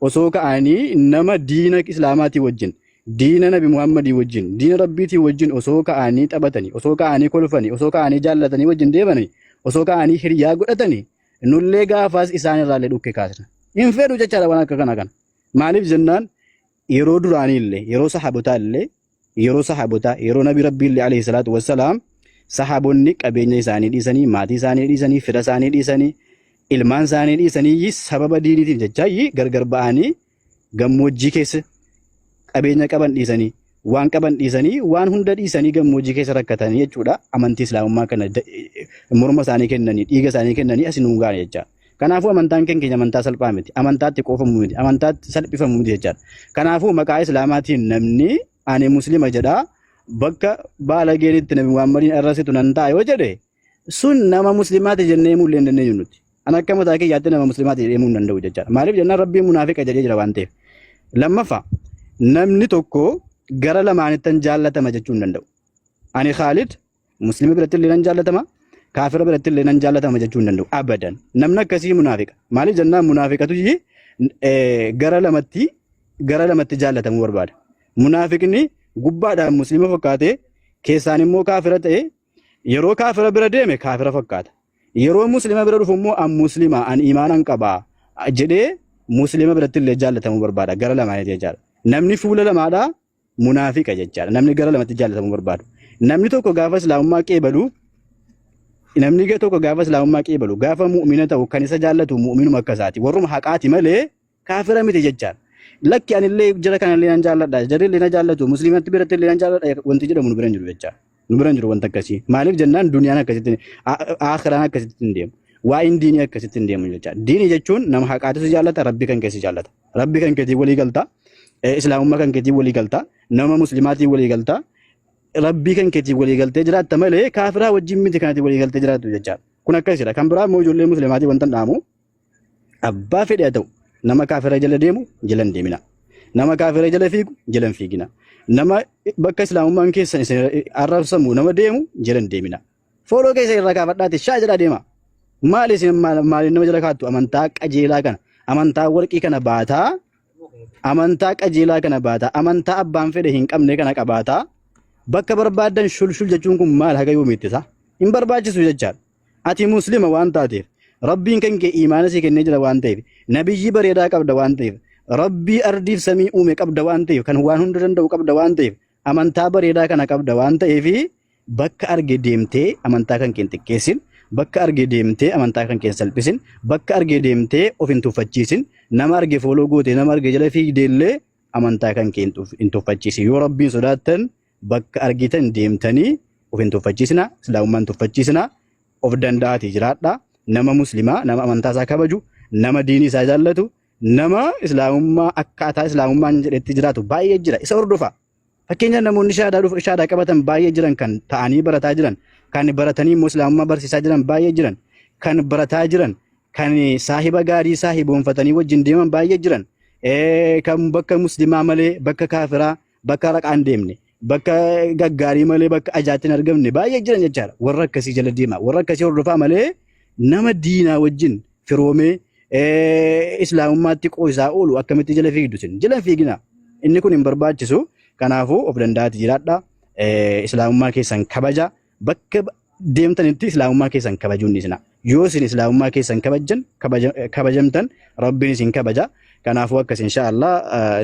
osoo ka'anii nama diina islaamaatii wajjin Diina Nabi Muhammadii wajjin, diina Rabbiitii wajjin osoo ka'anii taphatanii, osoo ka'anii kolfanii, osoo ka'anii jaallatanii wajjin deemanii, osoo ka'anii hiriyaa godhatanii, nullee gaafaas isaan irraallee dhukkee kaasna. Hin fedhu jechaadha waan akka kana kana. Maaliif jennaan yeroo duraanii illee, yeroo sahabotaa illee, yeroo sahabotaa, yeroo Nabi Rabbii illee alayhi salaatu wassalaam sahabonni qabeenya isaanii dhiisanii, maatii isaanii dhiisanii, fira isaanii dhiisanii, ilmaan isaanii dhiisanii sababa diiniitiif jechaa gargar ba'anii gammoojjii keessa qabeenya qaban dhiisanii waan qaban dhiisanii waan hunda dhiisanii gammoojjii keessa rakkatanii jechuudha amantii islaamummaa kana morma isaanii kennanii dhiiga isaanii kennanii asi nuun gaane jecha. Kanaafuu amantaan keenya amantaa salphaa miti amantaatti qoofamu miti amantaatti salphifamu miti jechaadha. Kanaafuu maqaa islaamaatiin namni ani muslima jedhaa bakka baalageen itti nabi Muhammadiin arrasitu nan ta'a yoo jedhe sun nama muslimaati jennee himuu illee hin dandeenyu nuti. An akka mataa kee yaaddee nama muslimaati jedhee himuu hin danda'u jechaadha. Maaliif jennaan rabbiin munaafiqa jedhee jira waan ta'eef. Lammaffaa namni tokko gara lamaanittan jaallatama jechuu hin danda'u. Ani Khaalid muslima biratti illee nan jaallatama kaafira biratti illee nan jaallatama jechuu hin danda'u abadan. Namni akkasii munaafiqa. Maaliif jennaan munaafiqatu gara lamatti gara lamatti jaallatamuu barbaada. Munaafiqni gubbaadhaan muslima fakkaatee keessaan immoo kaafira ta'ee Yeroo kaafira bira deeme kaafira fakkaata. Yeroo muslima bira dhufu immoo an muslima an iimaanan qaba jedhee muslima biratti illee jaallatamuu barbaada gara lamaaniiti jechaadha. Namni fuula lamaadha munaafiqa jechaadha. Namni gara lamatti jaallatamuu barbaadu. Namni tokko gaafa islaamummaa qeebalu namni tokko gaafa islaamummaa qeebalu gaafa mu'mina ta'u kan isa jaallatu mu'minuma akka isaati. Warruma haqaati malee Kaafira miti jechaan. Lakki anillee jara kanallee nan jaalladha. Jarrillee na jaallatu. Musliimatti birattillee nan jaalladha. Wanti jedhamu nu bira hin jiru jechaa. Nu bira hin jiru wanta akkasii. Maaliif jennaan duniyaan akkasitti aakhiraan akkasitti hin deemu. Waa'een diinii akkasitti hin deemu jechaa. Diinii jechuun nama haqaatu si jaallata, rabbi kan kee si jaallata. Rabbi kan keetiin walii galtaa, eh, islaamummaa kan keetiin walii galtaa, nama muslimaatiin walii galtaa, rabbii kan keetiin walii galtee jiraatta malee kaafiraa wajjin miti kanatti walii galtee jiraattu jechaa. Kun akkasidha. Kan biraa immoo ijoollee muslimaatiin wanta hin dhaamu. abbaa fedhe haa ta'u nama kaafira jala deemu jala hin deemina nama kaafira jala fiigu jala hin fiigina nama bakka islaamummaan keessan isin arrabsamu nama deemu jala hin deemina fooloo keessa irraa kaafadhaati shaa jala deema maal isin maal maaliin nama jala kaattu amantaa qajeelaa kana amantaa warqii kana baataa amantaa qajeelaa kana baataa amantaa abbaan fedhe hin qabne kana qabaataa bakka barbaadan shulshul jechuun kun maal haga yoomiitti isaa hin barbaachisu jechaadha. Ati Muslima waan taateef, Rabbiin kan kee iimaana si kennee jira waan ta'eef, Nabiyyii bareedaa qabda waan ta'eef, Rabbii ardiif samii uume qabda waan ta'eef, kan waan hunda danda'u qabda waan ta'eef, amantaa bareedaa kana qabda waan ta'eef, bakka arge deemtee amantaa kan kee hin xiqqeessin, bakka arge deemtee amantaa kan kee hin salphisin, bakka arge deemtee of hin tuffachiisin, nama arge fooloo goote, nama arge jala fiigdeellee amantaa kan kee hin tuf- hin tuffachiisin. Yoo Rabbiin sodaattan bakka argitan deemtanii of hin tuffachiisinaa, Islaamummaa hin tuffachiisinaa, of danda'aatii jiraadhaa, nama Muslimaa, nama amantaa isaa kabaju, nama diinii isaa jaallatu, nama Islaamummaa akkaataa Islaamummaan jedhetti jiraatu baay'ee jira, isa hordofaa. Fakkeenyaaf namoonni shahaadaa dhufu- shahaadaa qabatan baay'ee jiran, kan ta'anii barataa jiran, kan baratanii immoo Islaamummaa barsiisaa jiran baay'ee jiran, kan barataa jiran, kan saahiba gaarii saahiboonfatanii wajjin deeman baay'ee jiran, Eh, kan bakka Muslimaa malee bakka kaafiraa bakka raqaa hin deemne bakka gaggaarii malee bakka ajaatti hin argamne baay'ee jiran jechaadha warra akkasii jala deemaa warra akkasii hordofaa malee nama diinaa wajjin firoomee eh, islaamummaatti qoosaa oolu akkamitti jala fiigdu sin jala hin fiigina inni kun hin barbaachisu kanaafuu of danda'aati jiraadha eh, islaamummaa keessan kabaja Bakka deemtanitti islaamummaa keessan kabajuun dhiisina. Yoo isin islaamummaa keessan kabajjan kabaja- kabajamtan rabbiin isin kabaja. Kanaafuu akkas insha Allah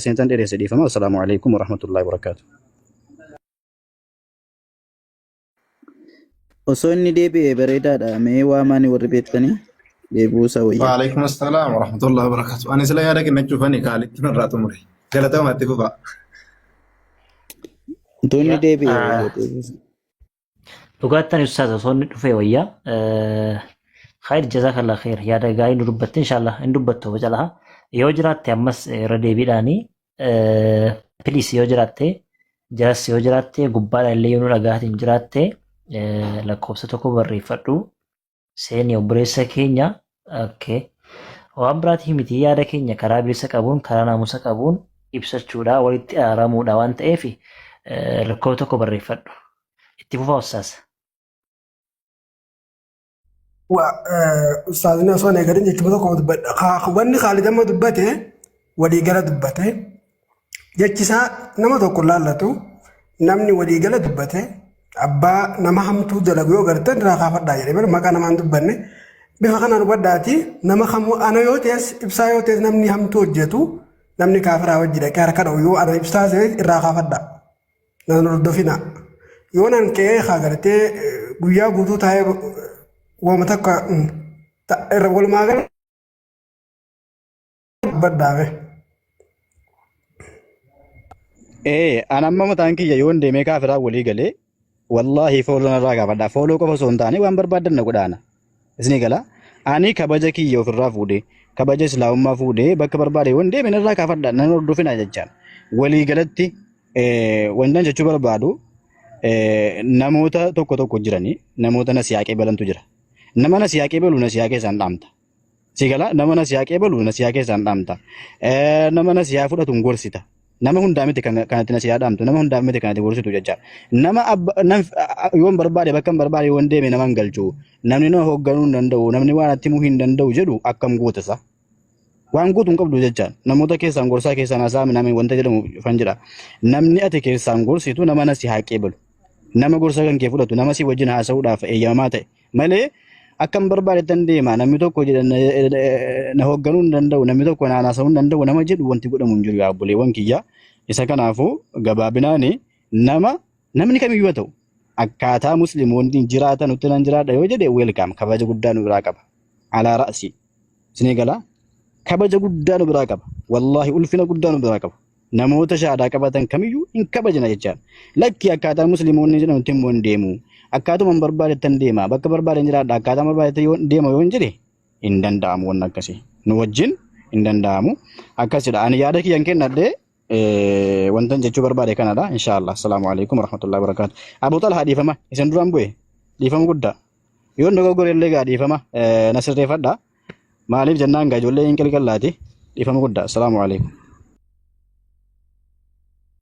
isintan dheeressa dhiifama. Assalaamu alaikum warahmatullahi wabarakaatu. Osoo inni deebi'e bareedaadha. Mee waa maani warri beektanii deebi'uu isaa wayya. Waalaikum assalam warahmatullahi wabarakatu. Ani sila yaada kennachuuf ani kaalitti narraa xumure. Galatoomaa itti fufaa. Utuu inni deebi'e wayya deebi'uu isaa. Dhugaattan ustaaz osoo inni dhufee wayyaa. Khayr jazakallah khayr yaada gaarii nu dubbatte inshallah hin dubbattu oba calaha. Yoo jiraatte ammas irra deebiidhaani please yoo jiraatte jalas yoo jiraatte gubbaadha illee yoo nu dhagaatiin jiraatte lakkoofsa tokko barreeffadhu. seeni obboleessa keenya okay. waan biraatii miti yaada keenya karaa bilisa qabuun karaa naamusa qabuun ibsachuudha walitti araaramuudha waan ta'eef rakkoo tokko barreeffadhu itti fufa ustaas. Waa ustaazni osoo hin eegalin jechuun tokko dubbadha. Wanni Khaalid amma dubbate walii gala dubbate. Jechisaa nama tokko laallatu namni waliigala dubbate abbaa nama hamtuu dalagu yoo gartan irraa kaafadhaa jedhe malee maqaa namaan dubbanne bifa kanaan hubadhaati nama kamuu ana yoo ta'es ibsaa yoo ta'es namni hamtuu hojjetu namni kaafiraa wajji dhaqee harka dha'u yoo ana ibsaa ta'e irraa kaafadhaa nan hordofina yoo nan ka'ee haa gartee guyyaa guutuu taa'ee waama takka irra walumaa gala dubbadhaame. Ee, an amma mataan kiyya yoon deemee kaafiraa walii galee wallaahi fooloo narraa gaafadha. Fooloo qofa osoo hin taane waan barbaadan na godhaana. Isinii gala. Ani kabaja kiyya ofirraa fuudhee kabaja islaamummaa fuudhee bakka barbaade yoon deeme narraa kaafadha nan hordofina jechaan. Walii galatti ee, wantan jechuu barbaadu ee, namoota tokko tokko jiranii namoota na siyaaqee balantu jira. Nama na siyaaqee balu na siyaaqee isaan dhaamta. Si gala nama na siyaa qeebalu na siyaa keessaan dhaamta. Eh, Nama na siyaa fudhatu hin gorsita. Nama hundaa miti kan kanatti na siyaa dhaamtu. Nama hundaa miti kanatti gorsitu jecha. Nama abba nam yoon barbaade bakka hin barbaade yoon deeme nama hin galchu. Namni na hoogganuu hin danda'u. Namni waan atti himuu hin danda'u jedhu akkam goota isaa. Waan gootu hin qabdu jecha. Namoota keessaan gorsaa keessaan haasaa minamee wanta jedhamu fan jedha. Namni ati keessaan gorsitu nama na siyaa qeebalu. Nama gorsa kan kee fudhatu nama si wajjin haasa'uudhaaf eeyyamamaa ta'e. malee akkan barbaadetan deema namni tokko jedha na, na hoogganuu hin danda'u namni tokko na haasa'uu hin danda'u nama jedhu wanti godhamu hin jiru yaa obboleewwan kiyya isa kanaafuu gabaabinaani nama namni kamiyyuu haa ta'u akkaataa musliimoonni jiraatan utti nan jiraadha yoo jedhe weelkaam kabaja guddaa nu biraa qaba alaa ra'si isinii galaa kabaja guddaa nu biraa qaba wallaahi ulfina guddaa nu biraa qaba namoota shahaadaa qabatan kamiyyuu hin kabajna jechaan lakki akkaataa musliimoonni jedhamutti immoo hin deemu akkaatuma hin barbaadeettan deema bakka barbaadeen jiraadha akkaataa barbaadeetti yoo deema yoo hin jire hin danda'amu wanni akkasii nu wajjin hin danda'amu akkasidha ani yaada kiyyan kennadhe eh, wantan jechuu barbaade kanadha inshaallah assalaamu alaikum warahmatullahi wabarakaatu abu talhaa dhiifama isin duraan bu'e dhiifama guddaa yoon dogoggore illee gaa dhiifama eh, na sirreeffadha Maaliif jennaan gaa ijoollee hin qilqallaati. Dhiifama guddaa. Assalaamu alaikum.